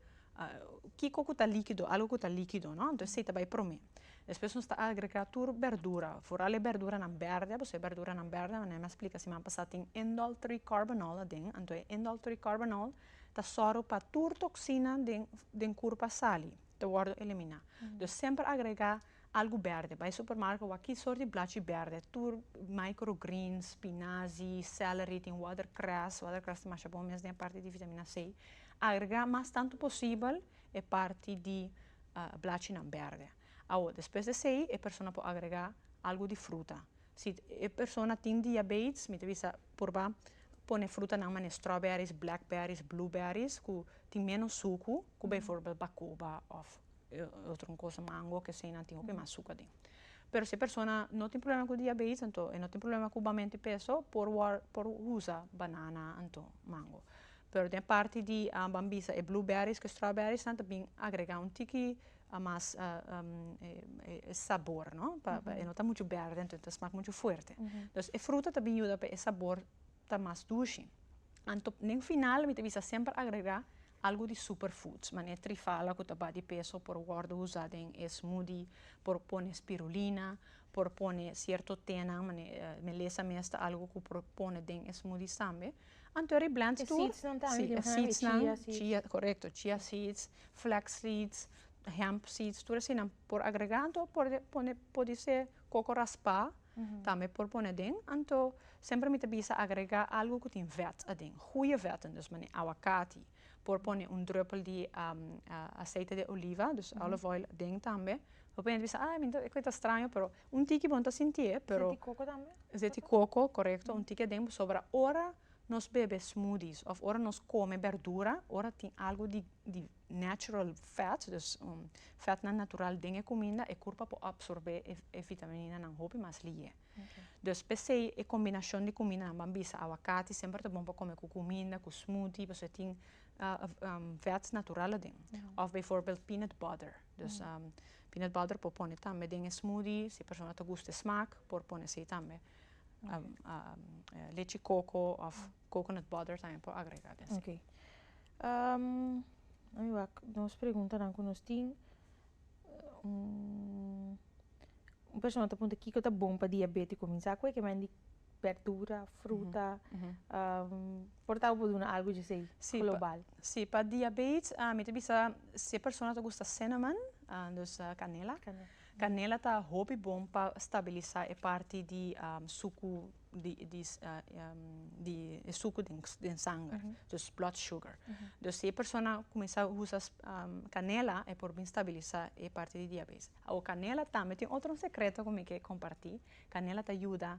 kiko ku ta likido, algo ku ta likido, no? Entonces esei ta bai promé. Despues nos ta agregrá tur berdura, foral e berduranan bèrdè, pasobra e berduranan bèrdè, manera mi a splika siman pasá, tin indol tri kòrbanòl aden. Anto e indol tri kòrbanòl ta sòru pa tur toksina den kurpa sali, ta wòrdu eliminá. Entonces semper agregá. Algu berde, bai supermarke wak ki sort di blachi berde tur micro greens, spinazi, celery, tin watercress, watercress ta masha bon mes den e parti di vitamina c, agrega mas tantu posibel e parti di blachinan berde, awo despues di esei e persona por agrega algu di fruta, si e persona tin diabetes mi ta bisa purba pone frutanan mane strawberries, blackberries, blueberries ku tin menos suku ku bijvoorbeeld bacoba of. otro cosa mango ke eseinan tin hopi mas suka den pero si e persona no tin problema ku diabetes enton e no tin problema ku bamenti peso por wor por usa banana anto mango pero den e parti di ban bisa e blue berries ku e strawberries nan ta bin agrega un tiki mas e sabor no pa e no ta muchu berde enton ta smak muchu fuerte dus e fruta ta bin yuda pa e sabor ta mas dushi. Anto den final mi ta bisa semper agrega algo di super foods manera trifala cu ta ba di peso por wordo usa den e smoothie por pone spirulina por pone cierto tenan manera melesa mes ta algo cu por pone den e smoothies tambe anto e reblend tur e seedsnan tambe tin asina e chia seeds nan chia corecto chia seeds flex seeds hemp seeds tur asina por agrega anto porde pone podi ser Coco raspá tambe por pone aden, anto semper mi ta bisa agrega algo cu tin vet aden, goeie vet aden, dus manera aguacati, por pone un druppel di aceite de oliva, dus olive oil, aden tambe, bo puede bisa ah mi ta cuinta straño pero un tiki bo no ta sintié pero. Aceite di coco tambe? Aceite di coco correcto un tiki aden pasobra ora nos bebe smoothies of ora nos come berdura ora tin algo di di natural fat, dus fatnan natural den e kuminda e kurpa por apsorbé e vitaminanan hopi mas lihé. Dus p'esei e kombinashon di kumindanan ban bisa awakati semper ta bon pa kome ku kuminda, ku smoothie pasobra e tin fats natural aden. Òf beivoorbeeld peanut butter, dus peanut butter por pone tambe den e smoothie, si e persona ta gusta e smak por pone esei tambe. Lechi koko òf Coconut butter tambe por agrega den si. Ami wak nos preguntanan ku nos tin un persona ta pregunta kiko ta bon pa diabetiko kuminsá ku e kemen di berdura, fruta por tabata bo duna algu di esei global. Si pa diabetes mi ta bisa si e persona ta gusta cinnamon dus kanela kanela ta hopi bon pa stabilisa e parti di suku. di e suku den sanger, dus blood sugar. Dus si e persona kuminsá usa kanela e por bin stabilisa e parti di diabetes. Awo kanela tambe tin otro un sekreto ku mi ke komparti, kanela ta yuda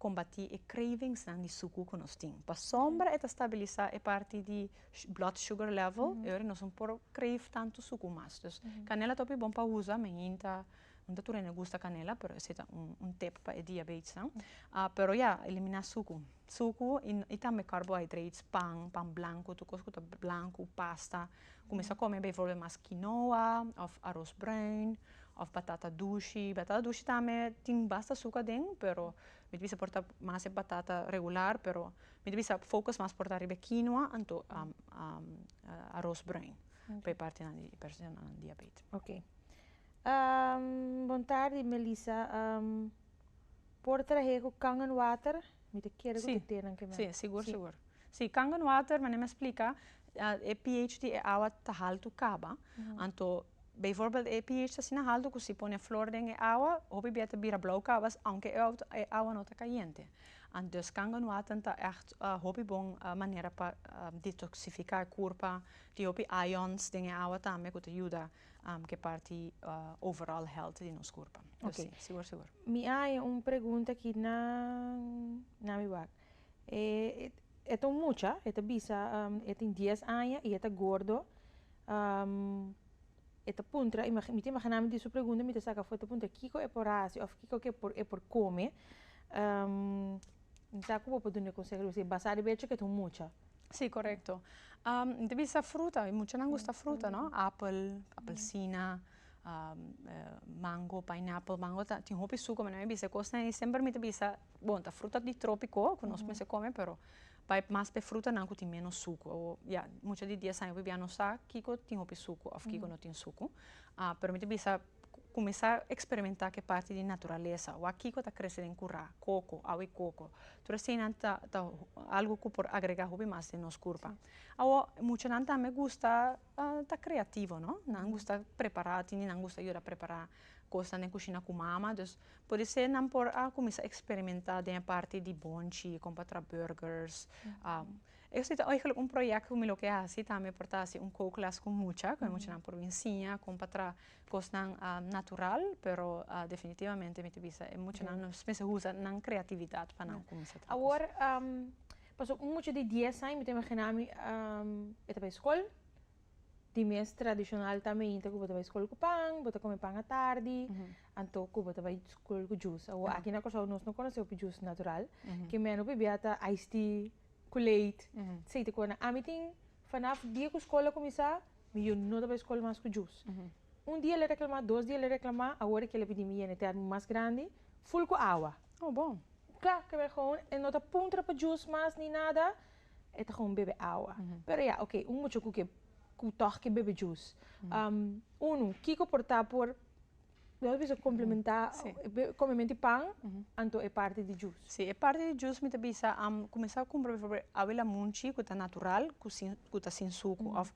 kombati e krevingsnan di suku ku nos tin. Pasobra e ta stabilisa e parti di blood sugar level e ora nos no por kreif tantu suku mas. Dus kanela ta hopi bon pa usa, men hinta. Nan ta tur a hende gusta canela pero ese ta un un tip pa e diabetesnan ah pero ya elimina sucu sucu y y tambe carbohydrates pan pan blanco tur cos cu ta blanco pasta cuminsa come bijvoorbeeld mas quinoa of aros bruin of batata dushi batata dushi tambe tin basta suca aden pero mi ta bisa por ta mas e batata regular pero mi ta bisa focus mas por ta riba e quinoa anto aros bruin pa e partenan di persona nan diabetes. Bon tardi Melissa por trahe cu kangen water mi ta kere cu te tenan kimen. Si sigur sigur si kangen water manera mi a splica e ph di e awa ta haltu caba anto bijvoorbeeld e ph ta asina haltu cu si pone flor den e awa hopi bia ta bira blauw caba aunke e awa no ta cayente antes kangen water ta echt hopi bon manera pa detoxifica e curpa tin hopi ions den e awa tambe cu ta yuda am ke parti overall health di nos kurpa. Oké. Pues si, sigur sigur. Mi haña un pregunta aki na na mi wak. E e ta un mucha, e ta bisa e tin dies aña i e ta gordo, e ta puntra, mi ta imaginami di su pregunta mi ta saka afó e ta puntra kiko e por hasi òf kiko ke e por kome, mi sa ku bo por dun'e konsèhou, basá riba echo ke e ta un mucha. Si korekto mi ta bisa fruta we muchanan gusta fruta no apel apelsina mango painèpel mango ta tin hopi suku me mi bisa kosnan ei semper mi ta bisa bon ta fruta di tropiko ku nos mester kome pero bai mas per frutanan ku tin menos suku o ya mucha di dies aña awibian nos sa kiko tin hopi suku of kiko no tin suku a pero mi ta bisa Kuminsá eksperimentá ku e parti di naturalesa. Wak kiko ta krese den kurá, koko, awe koko. Tur eseinan ta ta algu ku por agregá hopi mas den nos kurpa. Awo muchanan tambe gusta ta kreativo, no? Nan gusta prepará, tin di nan gusta yuda prepará kosnan den kushina ku mama. Dus podisé nan por a kuminsá eksperimentá den e parti di bonchi, kon pa traha bùrgers Esto ta eigenlijk un project cu mi lo ke haci tambe por ta haci un co-class cu mucha, cu e muchanan por bin siña con pa traha cosnan natural, pero definitivamente mi ta bisa e muchanan nos mester usa nan creatividad pa nan cuminsa traha cos. Awor pasobra un mucha di dies aña mi ta imagina mi e ta bay scol, di mes tradicional ta mainta cu bo ta bay scol cu pan, bo ta come pan atardi, anto cu bo ta bay scol cu juice. Awor aki na Curaçao nos no conoce hopi juice natural, ke menos pabia ta ice tea. Ku leit. Sei te kona. Ami tin fanaf dia ku skol a kuminsá mi yu no ta bai skol mas ku Jus. Un dia el a reklamá, dos dia el a reklamá, awor aki el a pidi mi yena e tèrmino mas grandi, ful ku awa. Oh bon. Kla, keb'e gewoon e no ta puntra pa Jus mas ni nada, e ta gewoon bebe awa. Pero ya, oke, un mucha ku ke ku tòg ke bebe Jus. Unu, kiko por ta por Nos bisa complementa come menti pan anto e parti di jus. Si e parti di jus mi ta bisa am cuminsa cumpra por ejemplo abuela munchi cu ta natural cu ta sin sucu of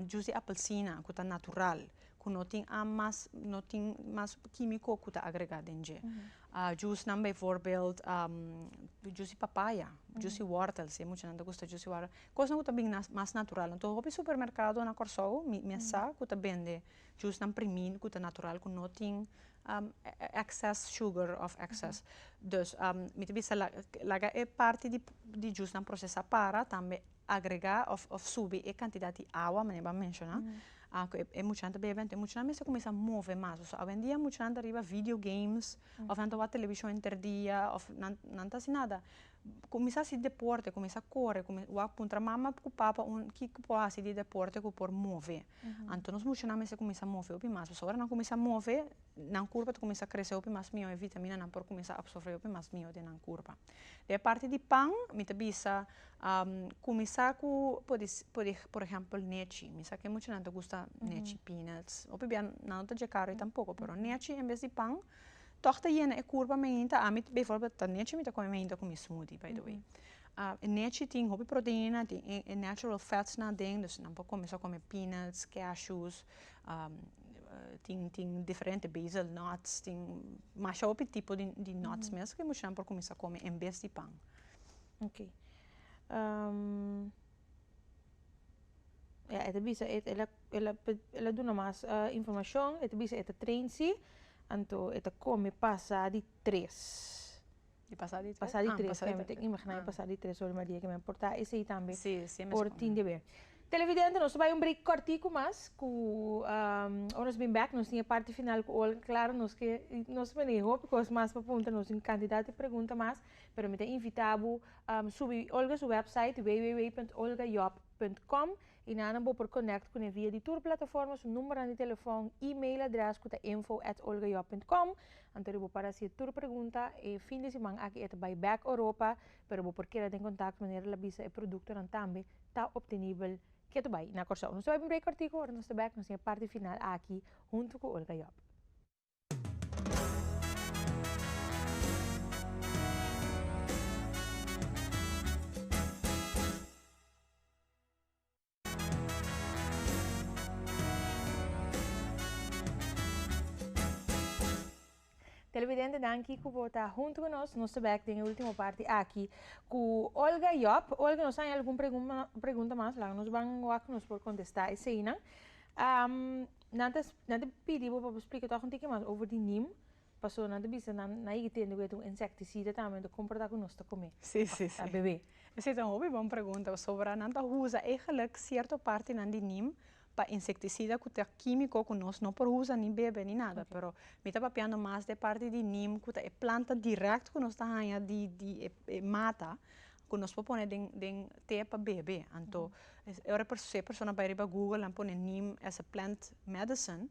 jus di apelsina cu ta natural cu no tin am mas no tin mas quimico cu ta agrega den dje jus nan bijvoorbeeld jus di papaya jus di wortel si muchanan ta gusta jus di wortel cosnan cu ta bini mas natural anto hopi supermercado nan Corsou mi a sa cu ta bende. Djusnan primí ku ta natural ku no tin excess sugar of excess dus mi ta bisa laga e parti di djusnan procesá para tambe agregá of subi e cantidad di awa manera bo a menciona ku e muchanan ta bebe entonces e muchanan mester cuminsa move mas pasobra awendia muchanan ta riba video games of nan ta wak television henter dia of nan ta haci nada cuminsa haci deporte cuminsa core wak puntra mama ku papa kiko por haci di deporte ku por move Anto nos mushonan mester cuminsa move hopi mas pasobra ora nan cuminsa move nan curpa ta cuminsa crece hopi mas miyo y vitamina por cuminsa absorbe hopi mas miyo den nan curpa den parti di pan mi ta bisa cuminsa cu podi podi por ejemplo nechi mi sa ke mushonan ta gusta nechi peanuts hopi bia nan no ta dje carne tampoco pero nechi en bes di pan tog ta yena e curpa mainta ami before ta nechi mi ta come mainta cu mi smoothie by the way A nechi tin hopi proteina tin e natural fats nan aden dus nan por kome sa kome peanuts, cashews, tin tin diferente basal nuts tin masha hopi tipo di nuts mes ke muchanan por kuminsá kome en bes di pan. Ok ya e ta bisa ela duna mas informashon e ta bisa e ta train si anto e ta kome pasa di tres. Di pasa di tres ora pasa di tres ora mi pasa di tres ora maria kiba mi por ta esey tambe por tin deber televidente nos ta bay un break cortico mas cu ora nos bin bek nos tin e parti final cu olga claro nos ke nos ta tene hopi cos mas pa puntra nos tin cantidad di pregunta mas pero mi ta invita bo subi olga su website www.olgayob.com I nan bo por connect cune via di tur plataforma su numbernan di telefon, email adres cu ta info at olgajob punt com. Anto di bo para haci e tur pregunta e fin di siman aki e ta bay bek Europa, pero bo por keda den contacto manera la bisa e productonan tambe ta obtenibel kia ta bay na Corsou. Nos ta bay pa un break cortico, ora nos ta bek nos tin e parti final aki hunto cu Olga Job. Televidentenan ki ku bo ta huntu ku nos, nos ta bèk den e último parti aki ku Olga Jòb. Olga, nos haña algun pregunta mas, laga nos ban wak nos por kontestá eseinan. Nan ta nan ta pidi bo pa bo splika tòg un tiki mas over di nim, pasobra nan ta bisa nan nan yega tende ku e ta un insèktisida tambe, nan ta komportá ku nos ta kume, ta bebe. Esei ta un hopi bon pregunta pasobra nan ta usa egelik sierto partinan di nim pa insektisida ku ta kímiko ku nos no por usa ni bebe ni nada pero mi ta papiando mas di e parti di nim ku ta e planta dirèkt ku nos ta haña di di e mata. ku nos por pone den den te pa bebe anto ora e persona se persona bai riba google a pone neem as a plant medicine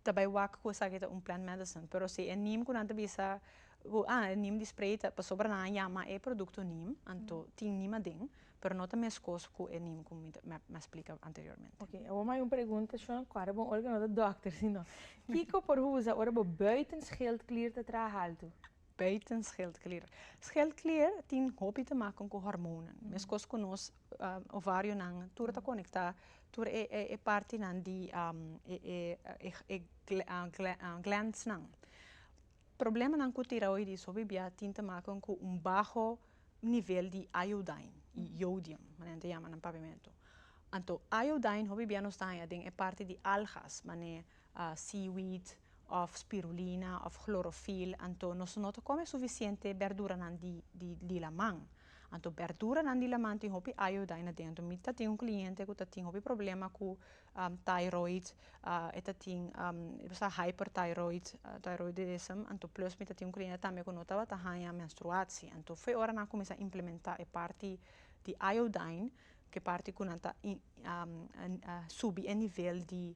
ta bai wak ku esaki ta un plant medicine pero si e neem ku nan ta bisa ku a e neem di spray ta pasobra nan a yama e produkto neem anto tin neem aden pero no ta meskos ku e neem ku mi ta mi a splika anteriormente. Ok awor mi a bai un pregunta Shuan kuadra bo un ora ku no ta dòkter sino kiko por usa ora bo bùiten scheldklier ta traha altu? Buiten scheldklier. Scheldklier tin hopi te maken ku hormonan. Meskos ku nos ovarionan tur ta konekta tur e e partinan di e glandsnan. Problemanan ku tiraoidis hopi bia tin te maken ku un baho nivel di iodine i jodium manera te yama nan papiamento. Anto iodine hopi bia nos ta haña den e parti di algas manera seaweed of spirulina of chlorofyll anto nos no ta come suficiente berduranan di di laman anto berduranan di laman tin hopi ayuda ahí adentro mi ta tin un cliente cu ta tin hopi problema cu thyroid e ta tin hyperthyroid thyroidism anto plus mi ta tin un cliente tambe cu no tabata haña menstruatie anto fe ora nan cuminsa implementa e parti di iodine cu e parti cu nan ta subi e nivel di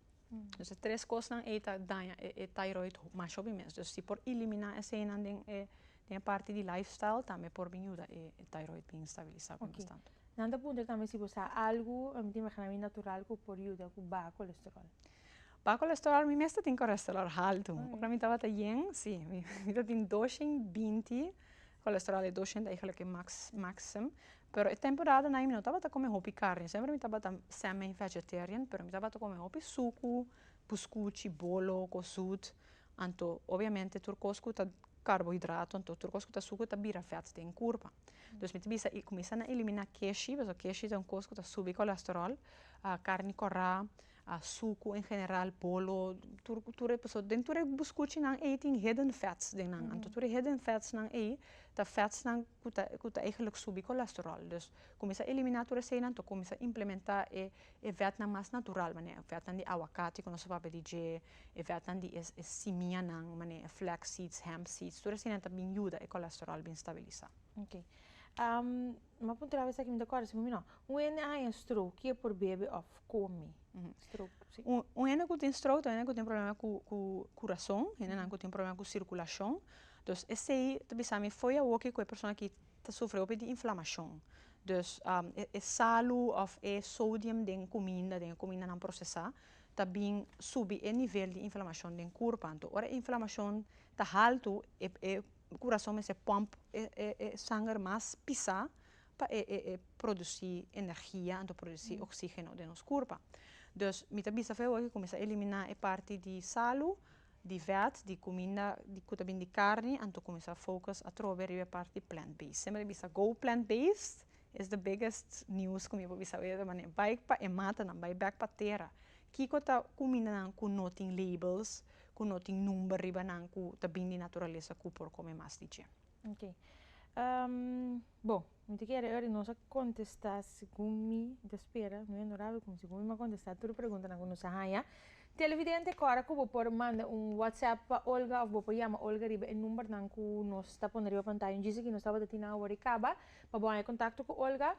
Pues e tres cosnan ei ta daña e thyroid mas hopi mes pues si por elimina eseinan den e parti di life style tambe por bin yuda e thyroid bin stabilisa kos mas tantu. Nan ta puntra tambe si bo sa algu mi ta imagina mi natural ku por yuda ku baha kolesterol. Baha kolesterol mi mes ta tin kolesterol haltu ora mi tabata yen si mi ta tin doshen binti Kolesterol e doscienta i gelijk e max maxim pero e temporada nan mi no tabata kome hopi karni semper mi tabata semi vegetarian pero mi tabata kome hopi suku puskuchi bolo kos zoet anto obviamente tur kos ku ta karbohidrato anto tur kos ku ta suku ta bira vet den kurpa dus mi ta bisa i kumisa na elimina keshi paske keshi ta un kos ku ta subi kolesterol karni kora a suku en general polo tur tur e persona den tur e buscuchi nan ey tin hidden fats den nan anto tur e hidden fats nan ey ta fats nan cu ta cu ta eigenlijk subi colesterol dus cuminsa a elimina tur esey nan anto cuminsa implementa e e vet nan mas natural manera e vet nan di aguacati cu nos a papia di dje e vet nan di e simia nan manera e flaxseeds hempseeds tur esey nan ta bin yuda e colesterol bin stabilisa. Mi a puntra awes aki mi ta kòrda si bo mi no. Un hende a haña stroke, ki e por bebe òf kome? Stroke, si. Un hende ku tin stroke ta un hende ku tin problema ku ku kurason, hendenan ku tin problema ku sirkulashon. Dus esei ta bisa mi fo'i awoki ku e persona aki ta sufri hopi di inflamashon. Dus e salu òf e sodium den kuminda, den e kumindanan prosesá, ta bin subi e nivel di inflamashon den kurpa. Anto ora e inflamashon ta haltu, e e kurason mester pòmp e e sanger mas pisá pa e e produsí energia anto produsí oksígeno den nos kurpa. Dus mi ta bisa fe oe kuminsá eliminá e parti di salu, di vèt, di kuminda ku ta bin di karni anto kuminsá focus atrobe riba e parti plant based. Semper mi ta bisa go plant based is the biggest news ku mi por bisa oe ta manera bai pa e matanan, bai bèk pa tera. Kiko ta kumindanan ku no tin labels? ku no tin number riba nan ku ta bin di naturalesa ku por kome mas di dje. Ok. Bo, mi ta kere oir nos a kontestá segun mi ta spera, mi onorabel, komo segun mi mi a kontestá tur e preguntanan ku nos a haña. Televidente, kòrda ku bo por manda un whatsapp pa Olga òf bo por yama Olga riba e numbernan ku nos ta pone riba pantaya un djis aki, nos tabata tin nan awor i kaba, pa bo haña kontakto ku Olga.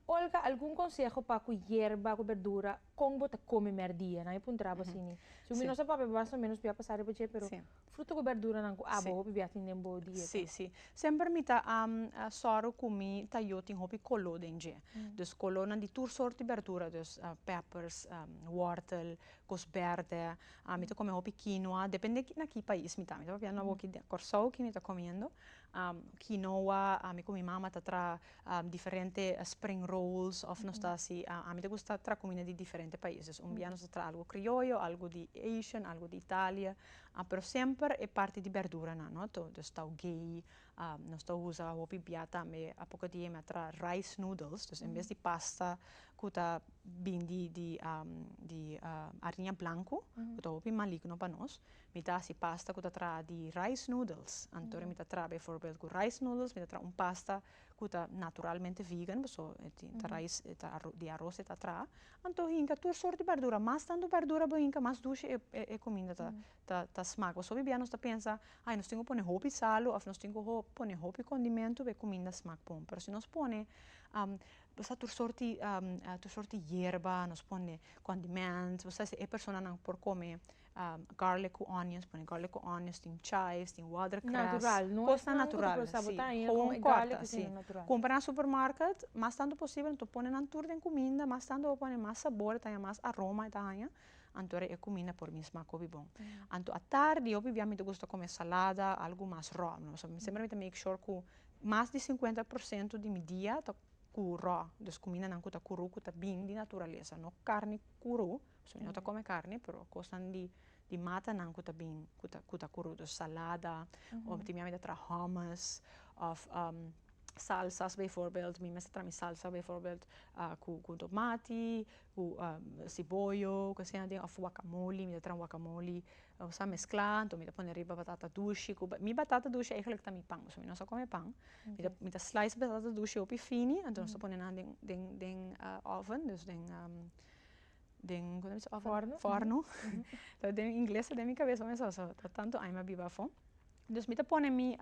Olga, algun konseho pa ku yerba, ku berdura Kon bo ta kome mèrdia? Nan a puntrabo asini. Si un di nos a papia mas o menos p'e a pasa riba dje, pero fruto ku bèrduranan ku abo hopi bia tin den bo dieta? Sí, sí. Semper mi ta sòru ku mi ta yu tin hopi koló den dje. Dus kolónan di tur sort di bèrdura, dus pèpers, wòrtel, kos bèrdè. Mi ta kome hopi kinoa, depende na ki pais mi ta. Mi ta papia na awo ki den Kòrsou, ki mi ta komiendo kinoa, mi ku mi mama ta traha diferente spring rolls of nos ta hasi ami ta gusta tra kumida di diferente paises un bia nos ta tra algu krioyo algu di asian algu di italia pero semper e parti di berdura nan no to des taugei nos ta usa hopi bia tambe a poco di e mi a tra rice noodles des en bes di pasta ku ta bindi di ariña blanku ku ta hopi maligno pa nos Mi ta hasi pasta ku ta traha di rice noodles. Anto mi ta traha bijvoorbeeld ku rice noodles, mi ta traha un pasta ku ta naturalmente vegan, paso e tin ta rice, e ta arò, di aros e ta traha. Anto hinka tur sort di bardura, mas tantu bardura bo hinka mas dushi e, e, e kuminda ta, ta, ta smak. Pasobra bia nos ta pensa, ai nos tin ku pone hopi salu òf nos tin ku ho, pone hopi kondimentu pa e kuminda smak bon. Pero si nos pone, am, bo sa tur sort di, am, tur sort di yerba, nos pone condiments, bo sa esei e personanan por kome. garlic cu onions pone garlic cu onions tin chives tin watercress cos nan natural si gewoon corta si cumpra na supermarket mas tanto posible anto pone nan tur den cuminda mas tanto bo pone mas sabor ta haña mas aroma ta haña anto e cuminda por mi smaak hopi bon anto atardi hopi bia mi ta gusta come salada algo mas roo no mi semper mi ta make sure cu mas di cincuenta por ciento di mi dia ta cu roo dus cuminda nan cu ta cru cu ta bin di naturaleza no carne cru Pasobra no ta come carne pero cosnan di di matanan cu ta bin cu ta cu ta curudo salada of tin mami ta traha hummus of salsas bijvoorbeeld mi mester traha mi salsa bijvoorbeeld cu cu tomati cu siboyo cu asina tin of wakamoli mi ta traha wakamoli o sa mescla anto mi ta pone ariba batata dushi cu mi batata dushi eigenlijk ta mi pan pasobra mi no sa come pan mi ta mi ta slice batata dushi hopi fini anto no sa pone nan den den den oven dus den den como se dice oven forno den ingles ta den mi cabeza me sa so ta tanto aña a biba afo dus mi ta pone mi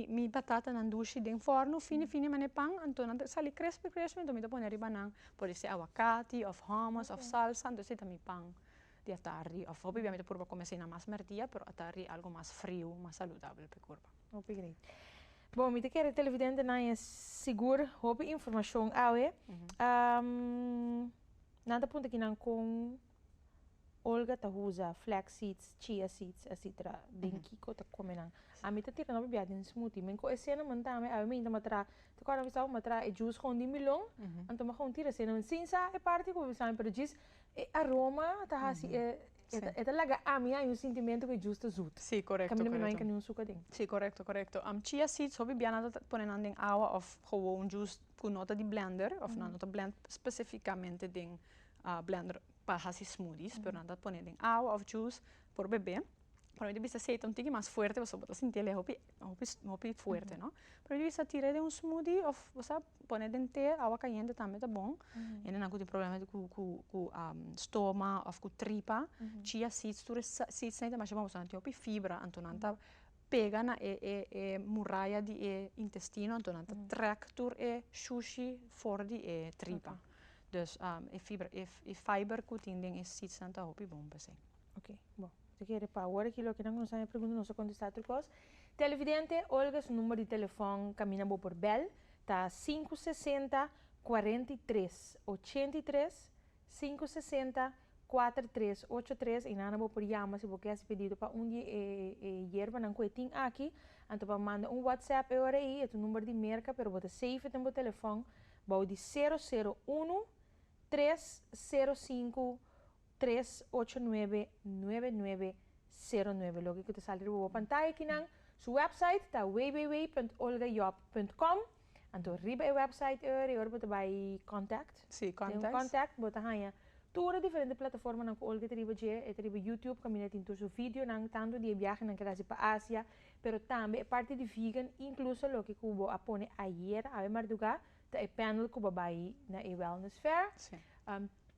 mi batata nan dushi den forno fini fini mane pan anto nan ta sali crispy crispy anto mi ta pone ariba nan por ese aguacati of hummus of salsa anto ese ta mi pan di atardi of hopi dia mi ta purba come así na mas mertia pero atardi algo mas frio mas saludabel pe cuerpo. Hopi great bo mi ta kere televidente nan e sigur hopi informacion awe Nan ta punta kinan kon Olga ta usa flax seeds, chia seeds, etcetera den kiko ta come nan. Ami ta tira no bibiaha den smoothie. Men cu e cinnamon tambe awe mi ta matra, ta acorda mi staba matra e juice gewoon di milon, anto mi a gewoon tira cinnamon sin sa e parti cu mi bisa mi pero djis e aroma ta haci e e ta laga ami haña un sintimento cu e juice ta zoet. Si corecto corecto. Caminda mi no haña niun suca den. Si corecto corecto. Chia seeds ho bibiaha nan ta pone nan den awa of gewoon juice. ku no ta di blender òf nan no ta blènt spesifikamente den blender pa hasi smoothies pero nan ta pone den awa òf juice por bebe pa mi ta bisa si ei ta un tiki mas fuerte pasobra bo ta sinti el e hopi hopi hopi fuerte no pa mi ta bisa tira den un smoothie òf sa pone den te awa kayente tambe ta bon hende nan ku tin problema ku ku ku stoma òf ku tripa chia seeds tur e seeds ei ta masha bon pasobra nan tin hopi fibra anto nan ta pega na e e e muraya di e intestino anto nan ta trek tur e shushi for di e tripa dus e fibra e e fiber ku tin den e seeds nan ta hopi bon pa esei. Oke bo ta kere pa awor aki loke nan ku no sabe pregunta no sa kontestá otro kos. Televidente Olga su number di telefòn kaminda bo por bèl ta sinku sesenta kuarenta i tres ochenta i tres Sinku sesenta, kuater tres, ocho tres, i nan a bo por yama si bo ke hasi pedido pa un di e e yerbanan ku e tin aki, anto pa manda un whatsapp e ora ei, e ta number di Merka pero bo ta save e den bo telefòn bou di sero sero unu, tres sero sinku, tres ocho nuebe, nuebe nuebe, sero nuebe loke ku ta sali riba bo pantaya aki nan su website ta www punt olgajob punt com. Anto riba e website eur y ora bo ta bay contact, si contact, den contact bo ta haya tur e diferente plataformanan cu Olga ta riba dje, e ta riba YouTube caminda tin tur su videonan tanto di e biahenan cu el a haci pa Asia pero tambe e parti di vegan incluso loke cu bo a pone ayer awe marduga ta e panel cu bo a bay na e wellness fair.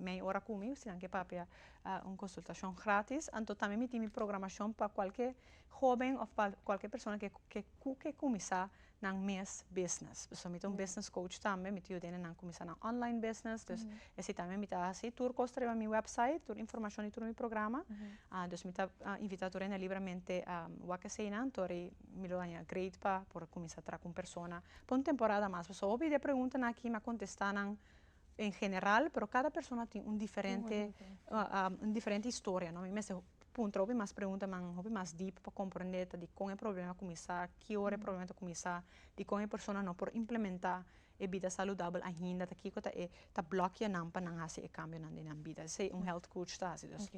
Mei ora ku mi, si nan ke papia un konsultashon gratis. Anto tambe mi tin mi programashon pa kualke hóben òf pa kualke persona ke ke ku ke kuminsá nan mes bisnes. Pasobra mi ta un bisnes kouch tambe, mi ta yuda nan a kuminsá nan ònlain bisnes. Dus e si tambe mi ta hasi tur kos riba mi wèpsait, tur informashon di tur mi programa. Dus mi ta invitá tur hende libramente wak esei nan tori mi lo haña great pa por kuminsá tra ku un persona pa un temporada mas. Pasobra hopi di e preguntanan aki mi a kontestá nan En general pero cada persona tin un diferente un diferente historia no mi mester puntra hopi mas preguntanan hopi mas deep pa comprende ta di con e problema a cuminsa ki ora e problema ta cuminsa dicon e persona no por implementa e bida saludabel ainda ta kico ta e ta blokia nan pa nan haci e cambionan den nan bida esey un health coach ta haci dus.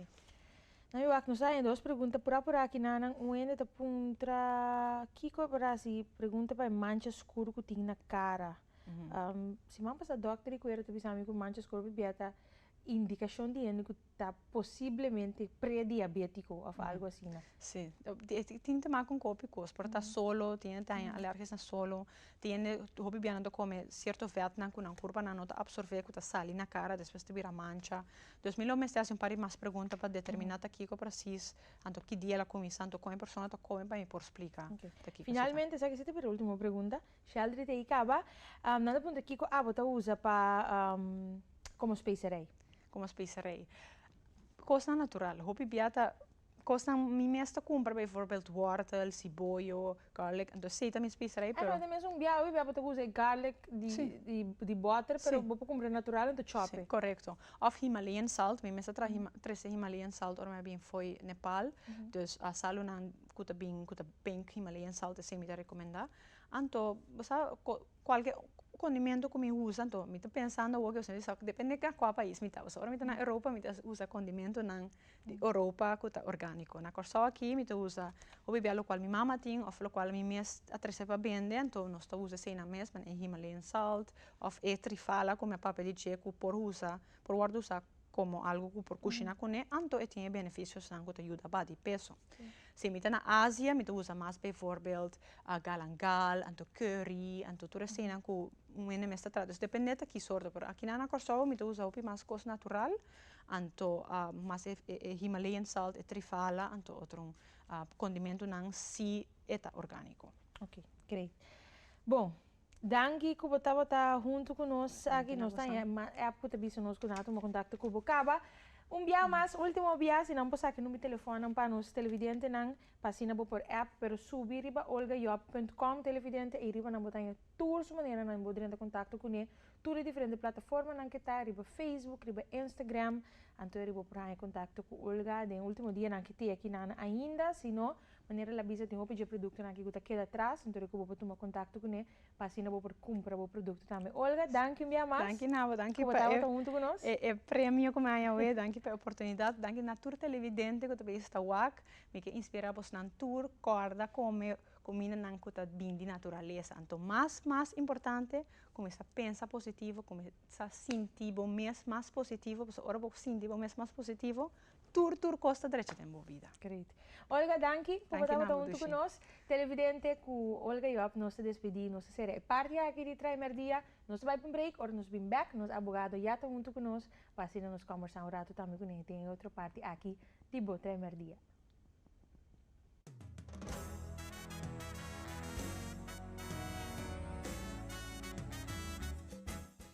Nan wak nos ta haña dos pregunta pura pura aki nan nan un hende ta puntra kico e por haci pregunta pa e mancha scuro cu tin na cara Siman pasá dòkter di kuera ta bisa mi ku mancha oskur bibié ta indikashon di hende ku ta posiblemente prediabétiko òf algu asina. Sí. Tin te mak un kopi kos. Por ta solo, tin hende ta haña alèrgisnan solo, tin hende, hopi bibié nan ta kome sierto vètnan ku nan kurpanan no ta apsorbé ku ta sali na kara despues ta bira mancha. Dus mi lo mester hasi un par di mas pregunta pa determiná ta kiko presis, anto ki dia el a kuminsá, anto kon e persona ta kome pa mi por splika ta kiko esaki ta. Finalmente esaki sí ta bira último pregunta. Sheldry ta hika aba. Nan ta puntra kiko abo ta usa pa komo specerij. Komo specerij. Kosnan natural. Hopi bia ta kosnan mi mes ta kumpra bijvoorbeeld wortel, siboyo, garlic entonces esei ta mi specerij pero. Esei ta mes un bia hopi bia bo ta usa e garlic di boter pero bo por kumpra natural entonces chop e. Correcto. Of Himalayan salt mi mes ta traha trese Himalayan salt ora mi a bin fo'i Nepal, dus a salunan ku ta bin ku ta pink Himalayan salt esei mi ta recomenda. Anto bo sa cualke condimentu cu mi usa anto mi ta pensando awor cusio esaki depende na cua pais mi ta pasobra ora mi ta na europa mi ta usa condimentunan di europa cu ta organico na corsou aki mi ta usa hopi bia locual mi mama tin of locual mi mes a trece pa bende anto nos ta usa eseinan mes pasobra e himalayan salt of e trifala cu mi a papia di dje cu por usa por wordo usa como algo cu por cushina cune anto e tin e beneficios nan cu ta yuda badi peso. Si mi ta na Asia mi ta usa mas bijvoorbeeld galangal anto curry anto tur esey nan cu un hende mes ta trata dus depende ta ki soorto pero akinan na Curaçao mi ta usa hopi mas cos natural anto mas e himalayan salt e trifala anto otro condimentonan si e ta organico. Ok great bo. Danki ku bo tabata huntu ku nos aki. Nos ta haña mas èp ku ta bisa nos ku nan a tuma kontakto ku bo. Kaba un bia mas, último bia, si nan por saki number telefònnan pa nos televidentenan pa asina bo por èp. Pero subi riba olgajob punt com televidente ei riba nan bo ta haña tur su manera nan bo drenta kontakto kuné tur e diferente plataformanan ke ta riba Facebook, riba Instagram. Anto riba bo por haña kontakto ku Olga den último dianan ke te aki nan ainda, si no Manera el a bisa, tin hopi dje produktonan aki ku ta keda atras, anto de ku bo por tuma kontakto ku ne pa asina bo por kumpra bo produkto tambe. Olga, danki un biaha mas. Danki Nabo, danki pa e. Ku bo tabata huntu ku nos. E premio ku mi a haña awe, danki pa e oportunidat, danki na tur televidente ku ta bai esta wak. Mi ke inspira abosnan tur kòrda kome kumindanan ku ta bin di naturalesa. Anto mas mas importante kuminsá pensa positivo, kuminsá sinti bo mes mas positivo, pasobra ora bo sinti bo mes mas positivo, tur tur cos ta drecha den bo vida. Great. Olga danki por bo tabata hunto cu nos. Televidente cu Olga Job nos ta despedi, nos ta cera e parti aki di Trae Merdia. Nos ta bai pa un break, ora nos bin back nos abogado ya ta hunto cu nos pa asina nos combersa un rato tambe cu ne den e otro parti aki di bo Trae Merdia.